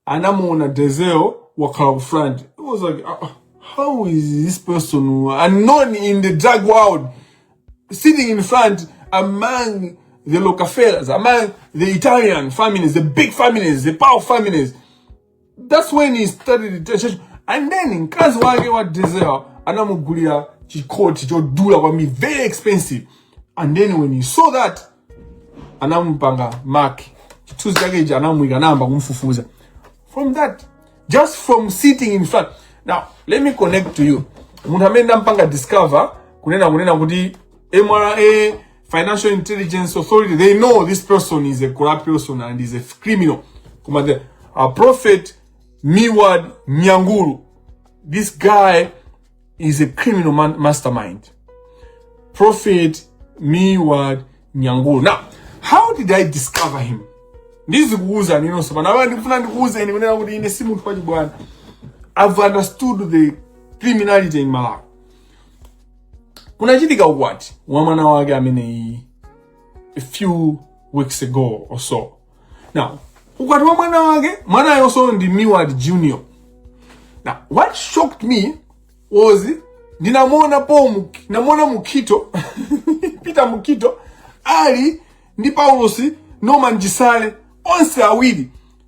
[SPEAKER 1] anamuona Denzel wakhala ku front it was like uh, how is this person unknown in the drug world sitting in front among the Lockefellers, among the Italian families, the big families, the power families. that's when he started the church and then mkazi wake wa Denzel anamugulira chikoti chodula kwambiri very expensive and then when he saw that anamupanga mark chithunzi chake ichi anamuyika anayamba kumfufuza from that just from sitting in front now let me connect to you munthu amene ndinampanga discover kunena kunena kuti mra financial intelligence authority they know this person is a corrupt person and is a criminal koma the a prophet miward nyangulu this guy is a criminal man, mastermind prophet miward nyangulu now how did i discover him ndizikuuzani inunso pano apa ndikufuna ndikuuzeni kunena kuti ine si munthu wachibwana i've understood the criminality in malawi kunachitika ukwati wa mwana wake ameneyi a few weeks ago or so now ukwati wa mwana wake mwanayonso ndi miward junior now what shocked me was ndinamuona paul Muk- ndinamuona mukito peter mukito ali ndi paulos norman chisale onse awiri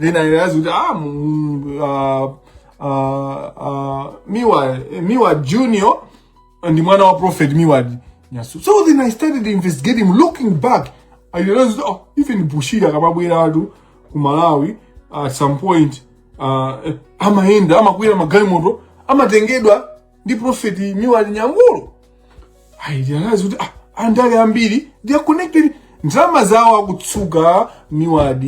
[SPEAKER 1] then i realize kuti ah mm, uh, uh, uh, miwa miward junior ndi mwana wa prophet miward nyasu so then i started investigating looking back i realized kuti, oh, even bushiri akamabweratu ku malawi at some point uh, amayenda amakwera magalimoto amatengedwa ndi profeti miward nyangulu i realize kuti ah, andale ambiri they are connected ndalama zawo akutsuka miward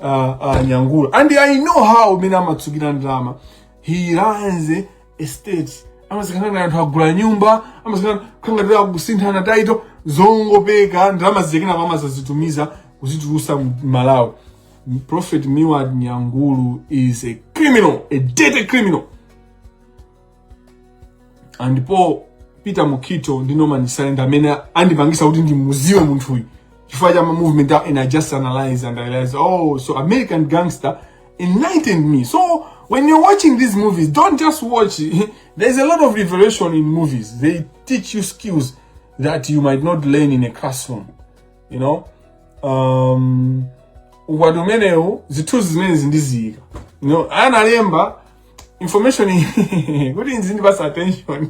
[SPEAKER 1] uh, uh, nyangulu and i know how umene amatsukira ndalama he runs estate amasikana na anthu agula nyumba amasikana khangatira kusinthana title zongopeka ndalama zikena mama zazitumiza kuzitulusa mu malawi prophet miward nyangulu is a criminal a dirty criminal andipo peter mukito ndi norman silent amene andipangisa kuti ndimudziwe munthuyu chifukwa cha ma movement awo and i just analyzed and i realized oh so american gangster enlightened me so when you're watching these movies don't just watch there's a lot of revelation in movies they teach you skills that you might not learn in a classroom you know um ukwati umenewo zithunzi zimenezi ndiziyika you know analemba information kuti nzindipasa attention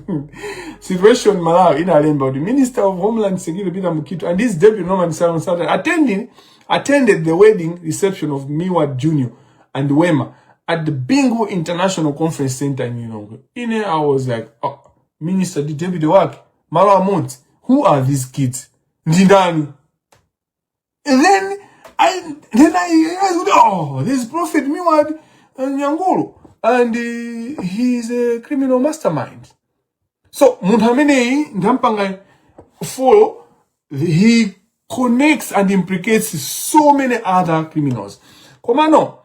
[SPEAKER 1] situation malawi inalemba kuti minister of homeland security peter mukito and his deputy norman simon sata attending attended the wedding reception of miwa junior and wema at the bingu international conference center in lilongwe ine i was like oh, minister ndi deputy wake malo amodzi who are these kids ndi ndani And then I then I realized, oh, this prophet Miwad uh, Nyangulu, and uh, he's a criminal mastermind. So munthu ameneyi ndampanga follow, he connects and implicates so many other criminals. Koma no,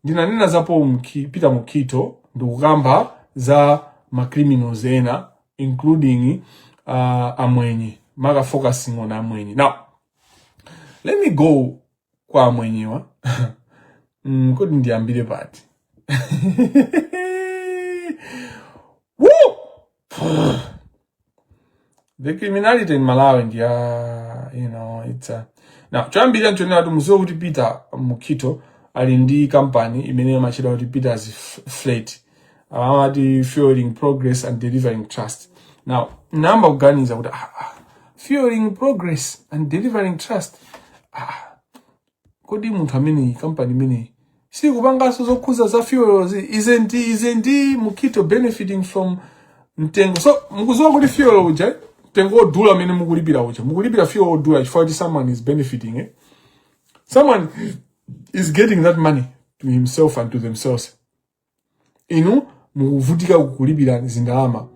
[SPEAKER 1] ndinanena za Paul, Peter Mukito ndikukamba za ma criminals ena including uh, amwenye maka focusing on amwenye now let me go kwa amwenyewa mm, kodi ndiyambire pati the criminality in malawi ndi ya you know it's a now choyambirira nchonena kuti mudziwe kuti peter mukito ali ndi kampani imene imatchedwa kuti peter's flat amati fueling progress and delivering trust now ndinayamba kuganiza kuti ah, ah, fueling progress and delivering trust ah, kodi munthu ameneyi kampani imeneyi sikupanganso zokhudza za fuel isn't isn't mukito benefiting from mtengo so mukudziwa kuti fuel uja mtengo wodula amene mukulipira uja mukulipira fuel wodula chifukwa kuti someone is benefiting eh? someone is getting that money to himself and to themselves inu mukuvutika kulipira zindalama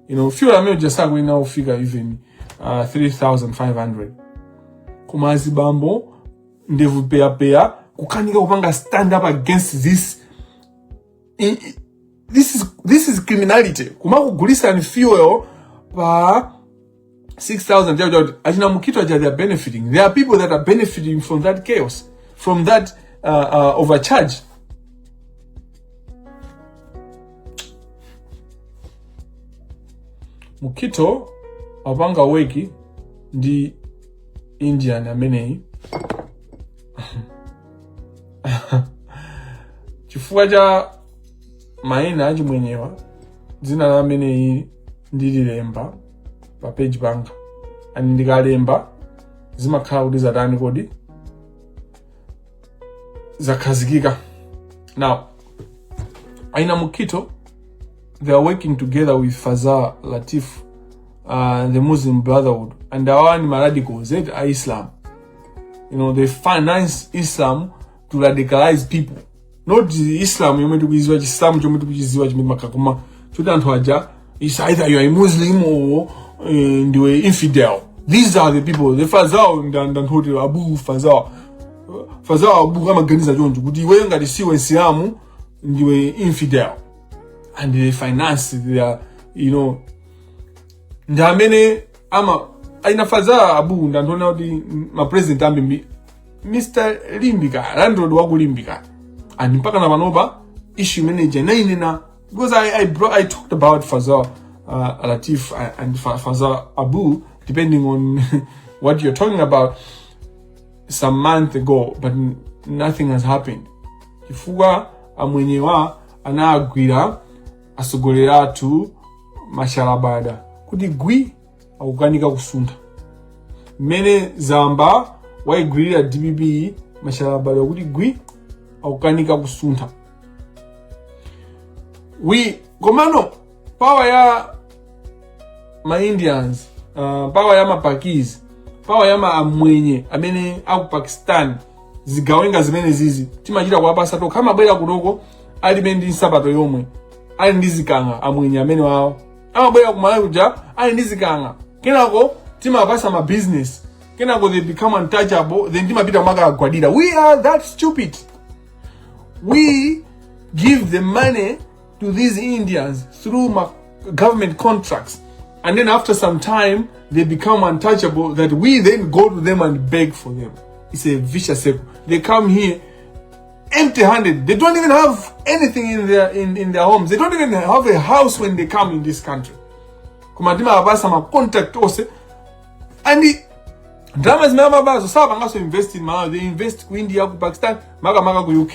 [SPEAKER 1] you know fuel amene uja sakuyenera kufika even uh, 3500 koma azibambo ndevu peyapeya kukanika kupanga stand up against this I- i- this is, this is criminality kumakugulitsani fuel pa 6000 chakuti kuti achina mukito aja they are benefiting there are people that are benefiting from that chaos from that uh, uh, overcharge mukito amapanga work ndi indian ameneyi chifukwa cha maina achimwenyewa dzina la ameneyi ndililemba pa page panga and ndikalemba zimakhala kuti zatani kodi zakhazikika now aina mukito they are working together with fazal latif uh, the muslim brotherhood and awawa ndi maradicals eti a islam you know they finance islam to radicalize people not islam yomwe tikuidziwa chisilamu chomwe tikuchidziwa chimene makakoma choti anthu aja is either you are a muslim or eh, ndiwe infidel these are the people the fazao ndanthuti abu fazao fazao abu amaganiza choncho kuti iweyo ngati siwe msilamu ndiwe infidel and they finance their you know ndi amene ama aina fazao abu ndanthuona kuti mapresident ambiri mr limbika landlord wakulimbika and mpaka na panopa issue manager nainena because i, I, bro, I talked about faza uh, latif and- and Fa- faza abu depending on what you're talking about some month ago but n- nothing has happened chifukwa amwenyewa anagwira atsogoleri athu mashalabada kuti gwi akukanika kusuntha mmene zaamba waigwirira dpp mashalabali akuti gwi akukanika kusuntha wi komano power ya maindians uh, power ya mapakis power ya amwenye amene aku pakistan zigawenga zimene zizi timachita kuwapasa tokha amabwera kunoko alibe ndi nsapato yomwe ali ndi zikanga amwenye amene wawo amabwera ku malawi kuja ali ndi zikang'a kenako timapasa ma business kenako they become untouchable then timapita kumakagwadira we are that stupid we give the money to these indians through ma government contracts and then after some time they become untouchable that we then go to them and beg for them it's a vicious circle they come here empty handed. They don't even have anything in their in, in their homes. They don't even have a house when they come in this country. Koma ndimawapasa ma contact ose and the dramas zimene amabazo sapanganso invest in Malawi. They invest ku India, ku Pakistan, maka maka ku UK.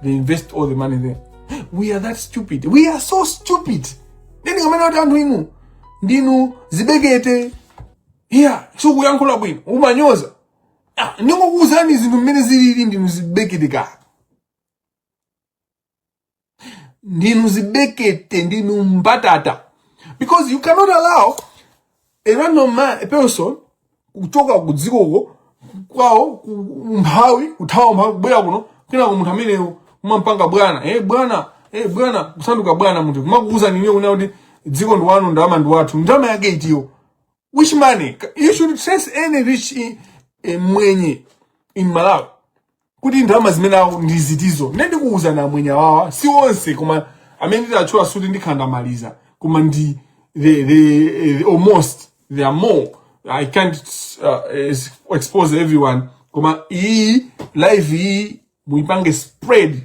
[SPEAKER 1] They invest all the money there. We are that stupid. We are so stupid. Then you amene kuti anthu inu ndinu zibekete. Yeah, so kuyankhula bwino. Umanyoza. Ah, ndingokuuzani zinthu mmene zilili ndinu zidzete ka ndinu zidzete ndinu mbatata because you cannot allow a random man, a person kuchoka kudziko kwawo ku- umphawi kuthawa umphawi kubwera kuno kenako munthu ameneyo kumampanga bwana eh bwana eh bwana kusanduka bwana munthu kumakuuzani inuyo kunena kuti dziko ndi lanu ndalama ndi wathu ndalama yake itiyo Which money? You should trace any rich in, eh, mwenye in Malawi. Kuti ndalama zimenezo ndi zitizo. Nde ndikuuzani amwenye awawa si onse koma amene nditatchula sikuti ndikhala ndamaliza koma ndi the, the, eh, the almost there are more. I can't uh, es- expose everyone koma iyi live iyi muipange spread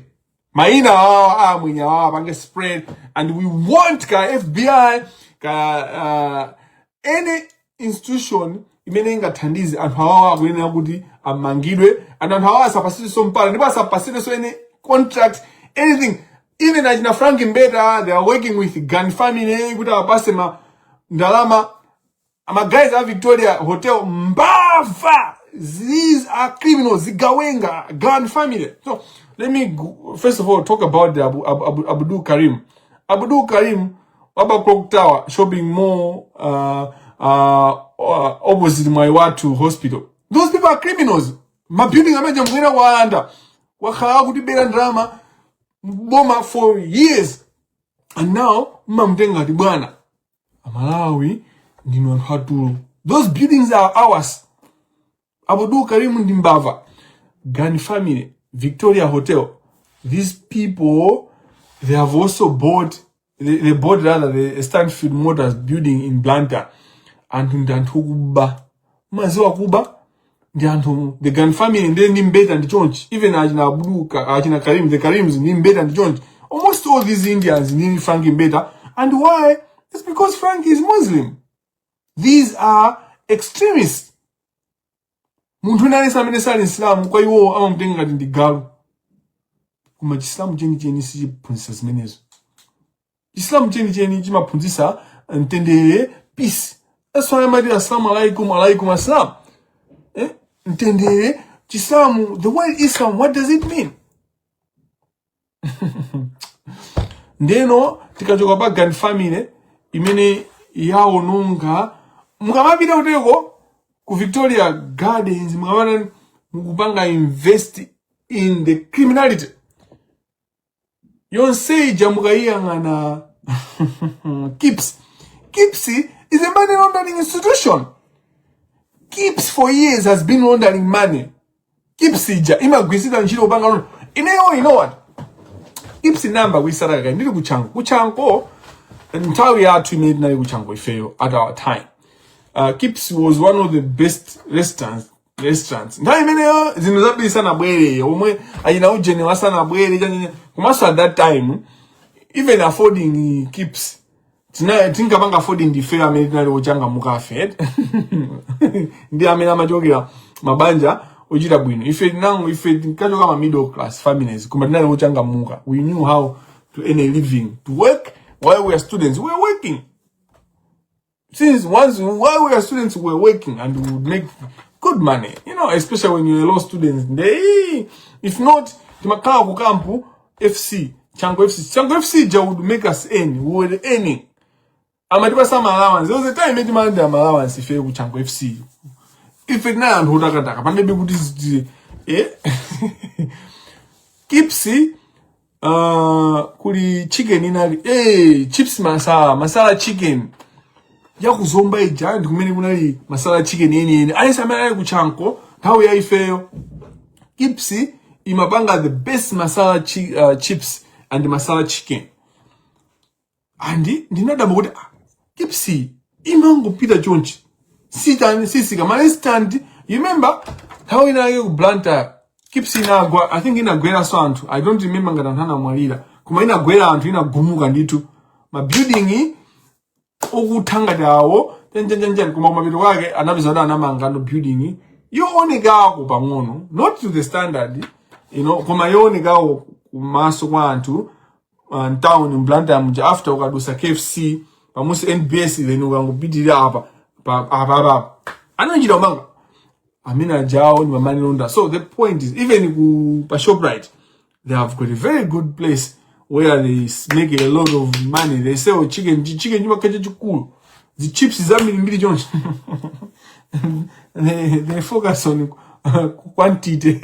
[SPEAKER 1] mayina awawa a amwenye awawa apangeni spread and we want ka fbi ka uh, any institution imene ingathandize anthu awawa akuyenera kuti amangidwe and anthu awawa asapasidwenso mpata ndipo asapasidwenso any contract anything even achina frank mbeta they are working with gani family kuti awapase ma ndalama ama guys a Victoria Hotel mbava these are criminals zigawenga gun family so let me go, first of all talk about the Abu, Abu, Abu, Abdul Karim Abdul Karim waba clock tower shopping mall uh, uh, uh, opposite Mwaiwatu hospital those people are criminals mabuilding amene amwera waanda wakhala akutibera ndalama boma for years and now mmamutenga ati bwana amalawi ndinu anthu atulo those buildings are ours abdul karim ndi mbava gani family victoria hotel these people they have also bought they, they bought rather the stansfield motors building in blantyre anthu ndi anthu okuba maziwa kuba ndi anthu the Gani family ndiye ndi Mbeta ndi chonchi even achina Abdul Ka- achina Karim the Karims ndi Mbeta ndi chonchi almost all these Indians ndi Frank Mbeta and why it's because Frank is Muslim these are extremists munthu wina aliyense amene sali msilamu kwa iwo amamutenga ngati ndi galu koma chisilamu chenicheni sichiphunzitsa zimenezo chisilamu chenicheni chimaphunzitsa mtendere peace that's why amati assalamu alaikum alaikum assalam eh? mtendere chisilamu the word islam what does it mean ndeno tikachoka pa Gani family imene yaononga mukamapita kuteko ku Victoria Gardens mukamati mukupanga investigate the criminality yonse ija mukayiyang'ana kips kips is a money laundering institution kips for years has been laundering money kips ija imagwiritsidwa ntchito kupanga launder ineyo you know what kips ndinayamba kuyitsata kale ndili ku Chanco ku Chanco nthawi yathu imene tinali ku Chanco ifeyo at our time uh, kips was one of the best restaurants restaurants nthawi imeneyo zinthu zambiri zisanabwere omwe achina ujeniwa asanabwere chanyenye komanso at that time even affording kips tina tinkapanga affording ndife amene tinali ochangamuka afford ndi amene amachokera mabanja ochita bwino ife tinango ife tinkachoka ma middle class families koma tinali ochangamuka we knew how to earn a living to work while we are students we are working since once while we were students we were working and we would make good money you know especially when you're a law student they, if not timakhala ku kampu fc chango fc chango fc ja would make us earn we were earning amatipasa allowance there was a time etimalanda allowance ife ku chango fc ife tinali anthu otakataka pamene kuti eh kipsi Uh, kuli chicken inali hey, eh, chips masala masala chicken ya ku Zomba ija ndi kumene kunali masala chicken yeniyeni aliyense amene anali ku Chanco nthawi ya ifeyo kips imapanga the best masala chi, uh, chips and masala chicken and ndinadabwa kuti ah, kips imangopita chonchi kutsika marestaurant you remember nthawi inayake ku Blantyre kips inagwa i think inagweranso anthu i don't remember ngati anthu anamwalira koma inagwera anthu inagumuka ndithu mabuilding okutha ngati awo tenjenjenjen koma kumapeto kwake anapeza kuti anamanga no building yoonekako pang'ono not to the standard you know koma yoonekako kumaso kwa anthu uh, mtown m'Blantyre muja after ukadusa kfc pamunsi nbs then ukangopitirira apa pa- apa apa apa anachita kumanga amene ajawo ni ma money launderer so the point is even ku pa shoprite they have got a very good place where they s- make a lot of money they sell chicken chi- chicken chimakhala chachikulu zichips zambirimbiri chonchi they, they focus on uh, quantity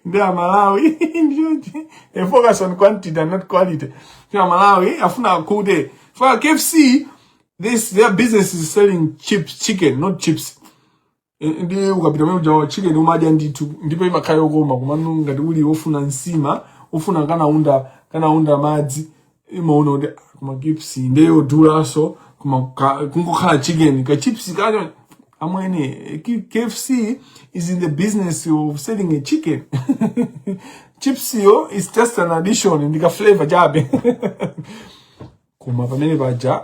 [SPEAKER 1] nde amalawi ndi choncho they focus on quantity and not quality ndi amalawi afuna akhute for kfc is their business is selling chips chicken not chips ndi ukapita pamene uja chicken umadya ndithu ndipo imakhala yokoma komano ngati uli wofuna nsima ufuna kanaunda kanaunda madzi imaona kuti ah, koma chips nde yodulaso koma ka- kungokhala chicken ka chips kacho amwene K- kfc is in the business of selling a chicken chips-yo is just an addition ndika flavor chabe koma pamene paja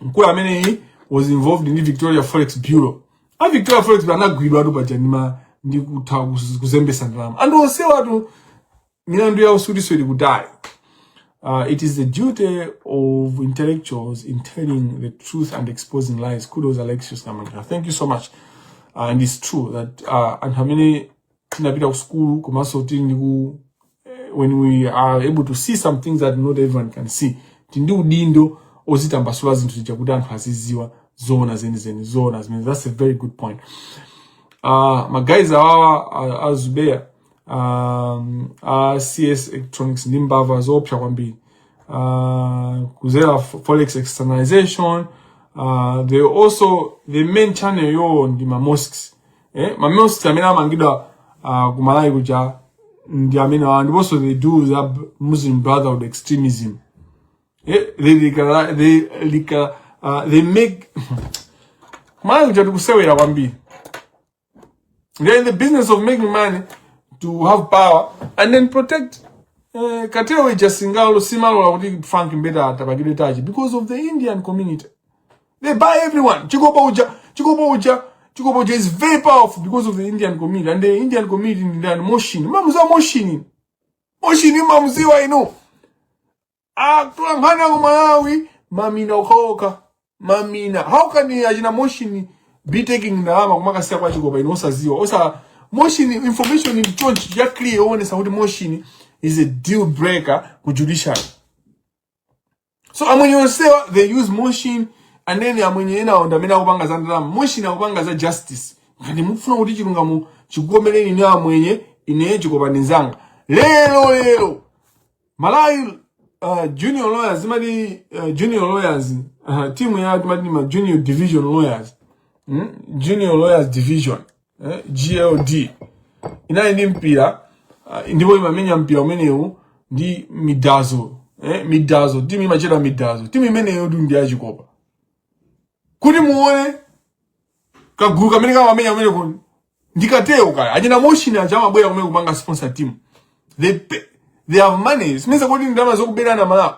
[SPEAKER 1] mkulu ameneyi was involved ndi victoria forex bureau a victoria forex bureau anagwidwatu paja ndima ndi kutha kuz- kuzembesa ndalama anthu onsewatu milandu yawo sikuti ili kutali Uh, it is the duty of intellectuals in telling the truth and exposing lies. Kudos, Alexius Kamanga. Thank you so much. Uh, and it's true that uh, anthu amene tinapita ku sukulu komanso kuti ndiku eh, when we are able to see some things that not everyone can see tili ndi udindo ozitambasula zinthu zija kuti anthu aziziwa zoona zenizeni zoona zimenezo that's a very good point uh, magayizi awawa a- a zubeya um, a cs electronics ndi mbava zoopsa kwambiri uh, kuzera fo- forex externalization uh, they also the main channel yawo ndi ma mosques eh ma mosques amene amangidwa uh, kumalawi kuja ndi amene awa ndiponso they do za b- muslim brotherhood extremism eh they radicalize, they, legal, uh, they make kumalawi kuja tikusewera kwambiri they're in the business of making money to have power and then protect uh, kathewera uja singalore samalola kuti frank mbeta apangidwe touch because of the indian community They buy everyone. Chikopa uja, Chikopa uja, Chikopa uja is very powerful because of the Indian community. And the Indian community in India, Moshin. Mamuza Moshin. Moshin, Mamuziwa, you know. Akula mhana ku Malawi, mamina ukaoka. Mamina. How can you imagine Moshin be taking ndalama kumakasiya kwa Chikopa ino osaziwa. Osa, Moshin, information in chonchi, ya clear, one, sa kuti Moshin is a deal breaker ku judiciary. so amwenye onsewa they use moshin and then amwenye enawo ndi amene akupanga za ndalama moshin akupanga za justice ngati mukufuna kuti chilungamo chikukomereni inu amwenye ineyo chikopani nzanga lero lero malawi uh, junior lawyers imati uh, junior lawyers uh, timu ya timati ma junior division lawyers mm? junior lawyers division eh, JLD inali ndi mpira uh, ndipo imamenya mpira umenewu ndi midazo eh, midazo timu imatchedwa midazo timu imeneyo ndi ndi yachikopa kuti muone kagulu kamene kamamenya kumene ku ndikatewo kaya achina moshin aja amabwera kumene kupanga sponsor team they pay, they have money mmesa kuti ndalama zokuberana malawi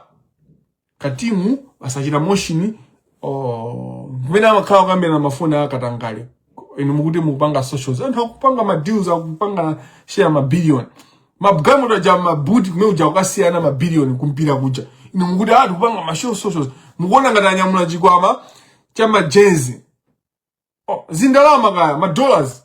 [SPEAKER 1] katimu asachita motion oh, kumene amakhala kukambirana mafoni akatangale inu mukuti mukupanga socials anthu akupanga ma deals akupanga share ma billion mmagalimoto aja mabuti kumene kuja kukasiyirana ma billion kumpira kuja inu mukuti ah tikupanga ma show socials mukuona ngati anyamula chikwama cha majenzi oh, ndi ndalama kaya ma dollars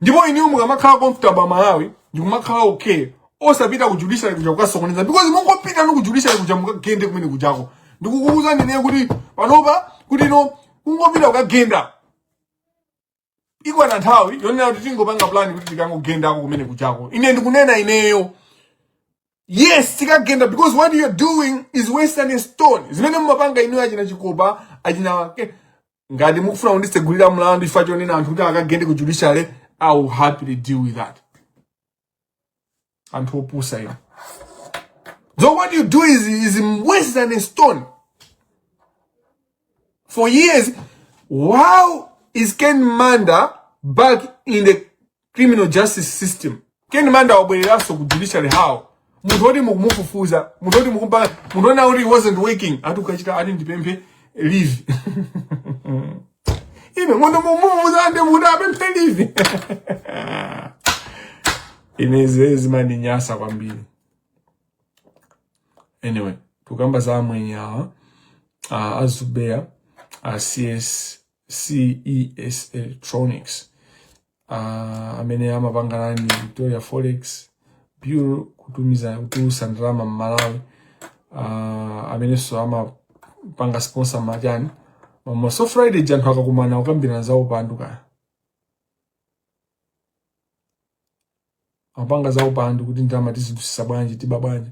[SPEAKER 1] ndipo inuyo mukamakhala comfortable malawi ndi kumakhala okay osapita ku judiciary kuja kukasokoneza because mungopita no ku judiciary kuja mukagende kumene kujako ndikukuuza ndine kuti panopa kuti no kungopita kukagenda iko na nthawi yonena kuti tingopanga plan kuti tikangogendako kumene kujako ine ndikunena ineyo yes tikagenda because what you're doing is wasting a stone zimene mumapanga inuyo achina chikopa achina ngati mukufuna kundisegulira mlandu chifukwa chonena anthu kuti akagende ku judiciary i will happily deal with that anthu opusa inu so what you do is worse than a stone for years how is ken manda back in the criminal justice system ken manda wabwereranso ku judiciary how munthu oti mukumufufuza munthu oti mukumpanga munthu onena kuti wasn't working ati ukachita ati ndipemphe leave munthu mukumufufuza ndi munthu apemphe leave zimene zimandinyasa kwambiri anyway tukamba za amwenye awa uh, a Zubeya uh, cs ces electronics uh, amene amapanga run victoria forex bureau kutumiza kutulusa ndalama mmalawi uh, amenenso amapanga sponsor ma chani mama so friday anthu akakumana kukambirana za upandu kaya amapanga za upandu kuti ndalama tizitulusa bwanji tiba bwanji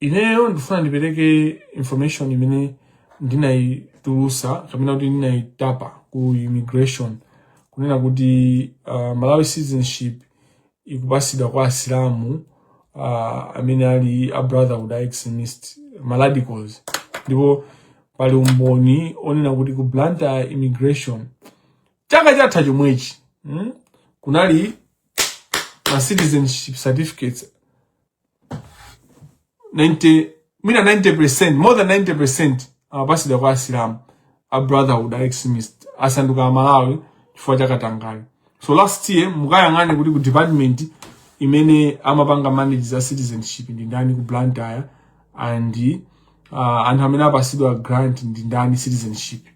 [SPEAKER 1] ineyo ndikufuna ndipereke information imene ndinayitulusa kapena kuti ndinayitapa ku immigration kunena kuti uh, malawi citizenship ikupasidwa kwa asilamu uh, amene ali a brotherhood a extremist ma radicals ndipo pali umboni onena kuti ku blantyre immigration chaka chatha chomwechi hmm? kunali ma citizenship certificates 90 I mean 90% more than 90% amapasidwa kwa asilamu a brotherhood a extremist asanduka amalawi chifukwa cha katangale so last year mukayang'ane kuti ku department imene amapanga manage za citizenship ndi ndani ku Blantyre and uh, anthu amene apasidwa grant ndi ndani citizenship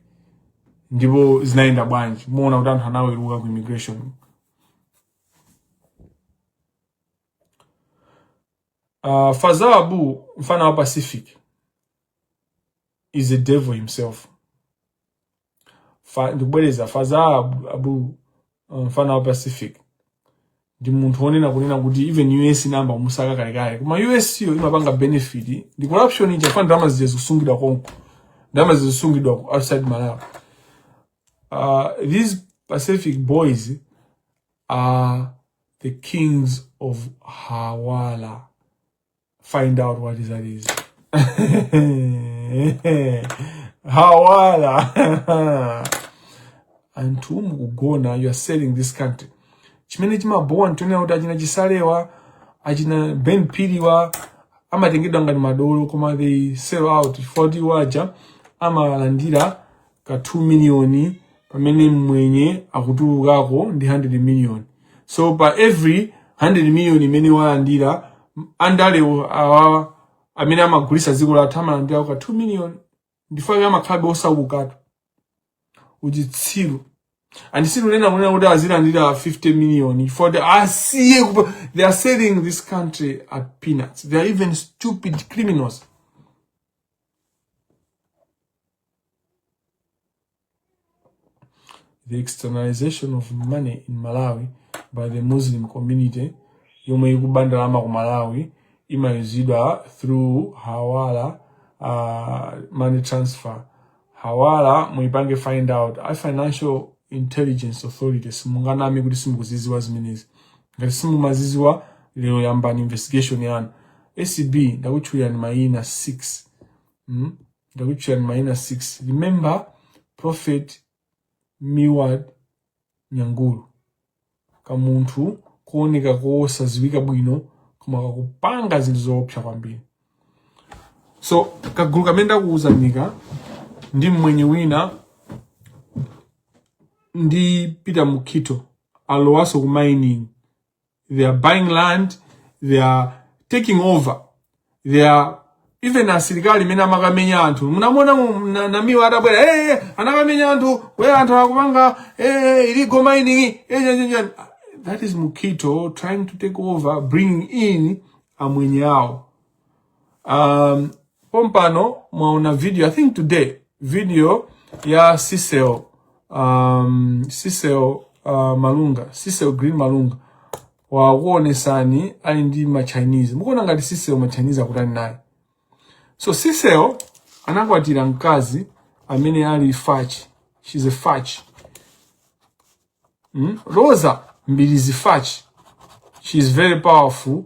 [SPEAKER 1] ndipo zinayenda bwanji mumaona kuti anthu anaweruka ku immigration uh, faza abu mfana wa pacific is the devil himself Fa, ndikubwereza faza abu, abu uh, mfana wa pacific ndi munthu wonena kunena kuti even us inayamba kumusaka kalekale koma us yo imapanga benefit ndi corruption ija chifukwa ndalama zija zikusungidwa konko ndalama zija zikusungidwa ku outside malawi uh, these pacific boys are the kings of hawala find out what that is. Hawala. Anthu mukugona, you are selling this country. Chimene chimabowa nchonena kuti achina chisalewa, achina Ben Phiri wa, amatengedwa ngati madolo koma ndi sell out poti awaja amalandira ka 2 million pamene mmwenye akutulukako ndi 100 million so pa every 100 million imene walandira m- andalewo awa amene amagulisa dziko lathu amalandirako ka 2 million ndichifukwa chake amakhalabe osawukatu uchitsiru and sinunena kunena kuti azilandira 50 million koma asiye kupa- they are selling this country at peanuts they are even stupid criminals the externalization of money in malawi by the muslim community yomwe ikuba ndalama ku malawi imayuzidwa through hawala uh, money transfer hawala muipange find out a financial intelligence authority simunganame kuti simukuziziwa zimenezi ngati simumaziziwa lero yambani investigation yanu acb ndakutchulirani mayina 6 mm? ndakutchulirani mayina 6 remember prophet miwad nyangulu kamunthu kooneka kosaziwika bwino koma kakupanga zinthu zoopsa kwambiri so kagulu kamene ndakuwuzanika ndi mmwenye wina ndi peter mukito alowaso ku mining they are buying land they are taking over they are even asilikali mene amakamenya anthu munamona namiwa atabwera hey, eh, eh, anakamenya anthu we anthu akupanga hey, eh, illegal mining hey, that is mukhito trying to take over bringing in amwenye awo um, pompano mwaona video i think today video ya Cecil um, Cecil uh, malunga Cecil green malunga wakuonesani ali ndi machinese mukuona ngati Cecil machinese akutani naye so Cecil anakwatira mkazi amene ali Fachi she's a Fachi mm? Roza Mbilizi Fachi she is very powerful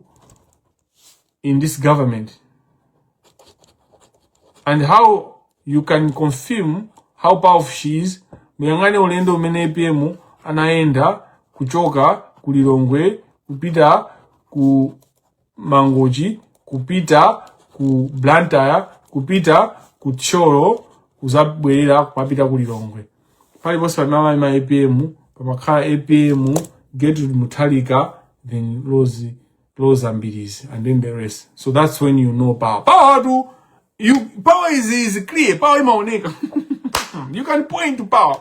[SPEAKER 1] in this government and how you can confirm how powerful she is muyang'ane ulendo umene apm anayenda kuchoka ku lilongwe kupita ku Mangochi kupita ku Blantyre kupita ku Thyolo kuzabwerera kumapita ku Lilongwe paliponse pamene amayima APM pamakhala APM Gertrude Mutharika then Rose Roza Mbilizi and then the rest so that's when you know power power to you power is, is clear power imaoneka you can point to power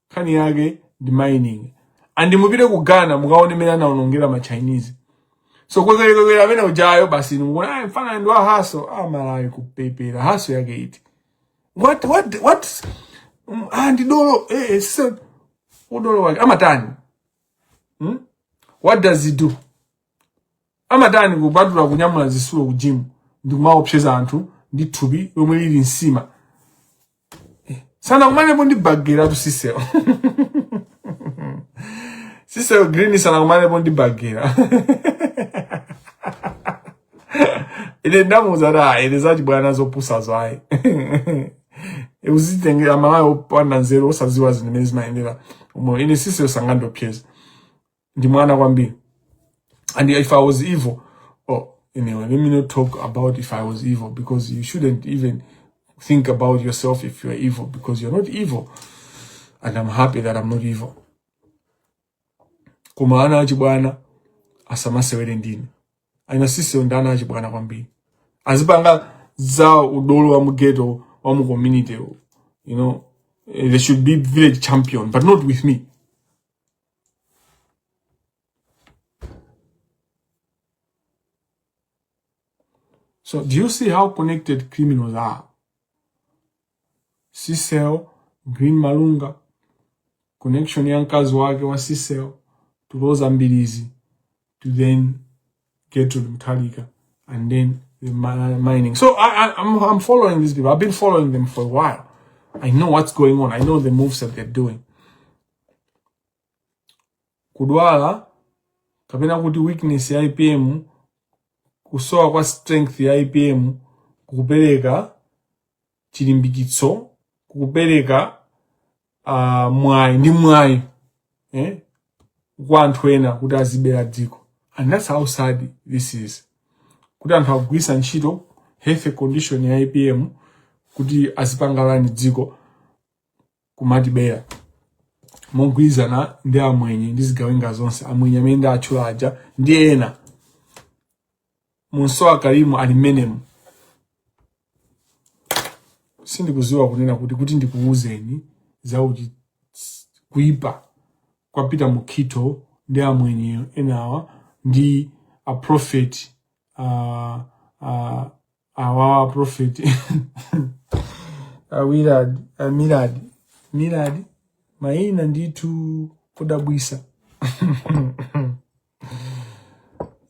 [SPEAKER 1] nkhani yake ndi mining and mupite ku ghana mukaone mmene anaonongera ma chinese so kwekwelekwele amene ujayo basi ndikuona "Ah, mfana ndi wa haso ah, malawi kupepera, haso yake iti what what what Mm, ah, ndi dolo eh, eh, so, udolo wake amatani hmm? what does he do amatani kupatula kunyamula zisulo ku gym ndi kumaopseza anthu ndi thupi lomwe lili nsima Eh, sanakumanepo ndi bagera tu Cecil Cecil green sanakumanepo ndi bagera ine ndamuuza da ine zachibwana zopusazo ayi uzitengera malawi opanda nzeru osaziwa zinthu zimene zimayendera umo ine Cecil sangandiopseze ndi mwana kwambiri and if i was evil oh anyway let me not talk about if i was evil because you shouldn't even think about yourself if you are evil because you're not evil and i'm happy that i'm not evil koma ana achibwana asamasewere ndine aina sisiwo ndi ana achibwana kwambiri azipanga za udolo wa mugeto wa mu community you know eh, they should be village champion but not with me So do you see how connected criminals are? Sisel, Green Malunga, connection ya mkazi wake wa Sisel to Rosa Mbilizi to then Gertrude Mutharika, and then the mining. So I, I, am I'm, I'm following these people. I've been following them for a while. I know what's going on. I know the moves that they're doing. Kudwala kapena kuti weakness ya IPM kusowa kwa strength ya IPM kupereka chilimbikitso kukupereka uh, mwayi ndi mwayi eh? kwa anthu ena kuti azibera dziko and that's how sad this is kuti anthu akugwirisa ntchito health condition ya apm kuti azipangalani dziko kumatibera mogwirizana ndi amwenye ndi zigawenga zonse amwenye amene ndawatchula aja ndi ena Munso a Karim ali mmenemo. Sindikuziwa kunena kuti kuti ndikuwuzeni zakuti kuipa kwa Peter Mukhito ndi amwenye enawa ndi a prophet uh, uh, awawa prophet a Milad Milad maina ndithu kudabwisa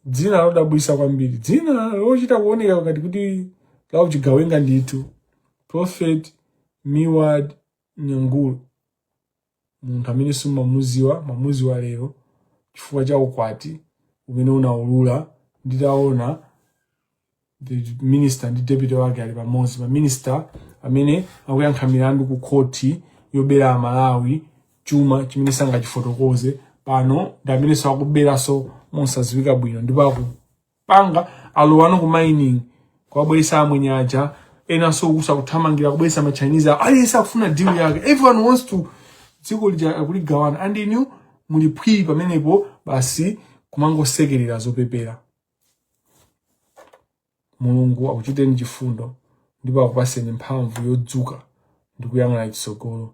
[SPEAKER 1] dzina lodabwisa kwambiri dzina lochita kuoneka ngati kuti lauchigawenga ndithu prophet miwad nyangulu munthu amene simumamuziwa mamuziwa lero chifukwa cha ukwati umene unaulula nditaona the minister ndi deputy wake ali pamodzi ma minister amene akuyankha milandu ku khoti yobera amalawi chuma chimene sangachifotokoze panopa ndi amene-nso akuberanso mosadziwika bwino ndipo aku- panga alowano ku mining kwabweretsa amwenye aja enanso uku nso kuthamangira kubweretsa ma chinese awo aliyense akufuna deal yake everyone wants to dziko lija akuligawana and inu muli phwii pamenepo basi kumangosekerera zopepera mulungu akuchiteni chifundo ndipo akupaseni mphamvu yodzuka ndi kuyang'ana chitsogolo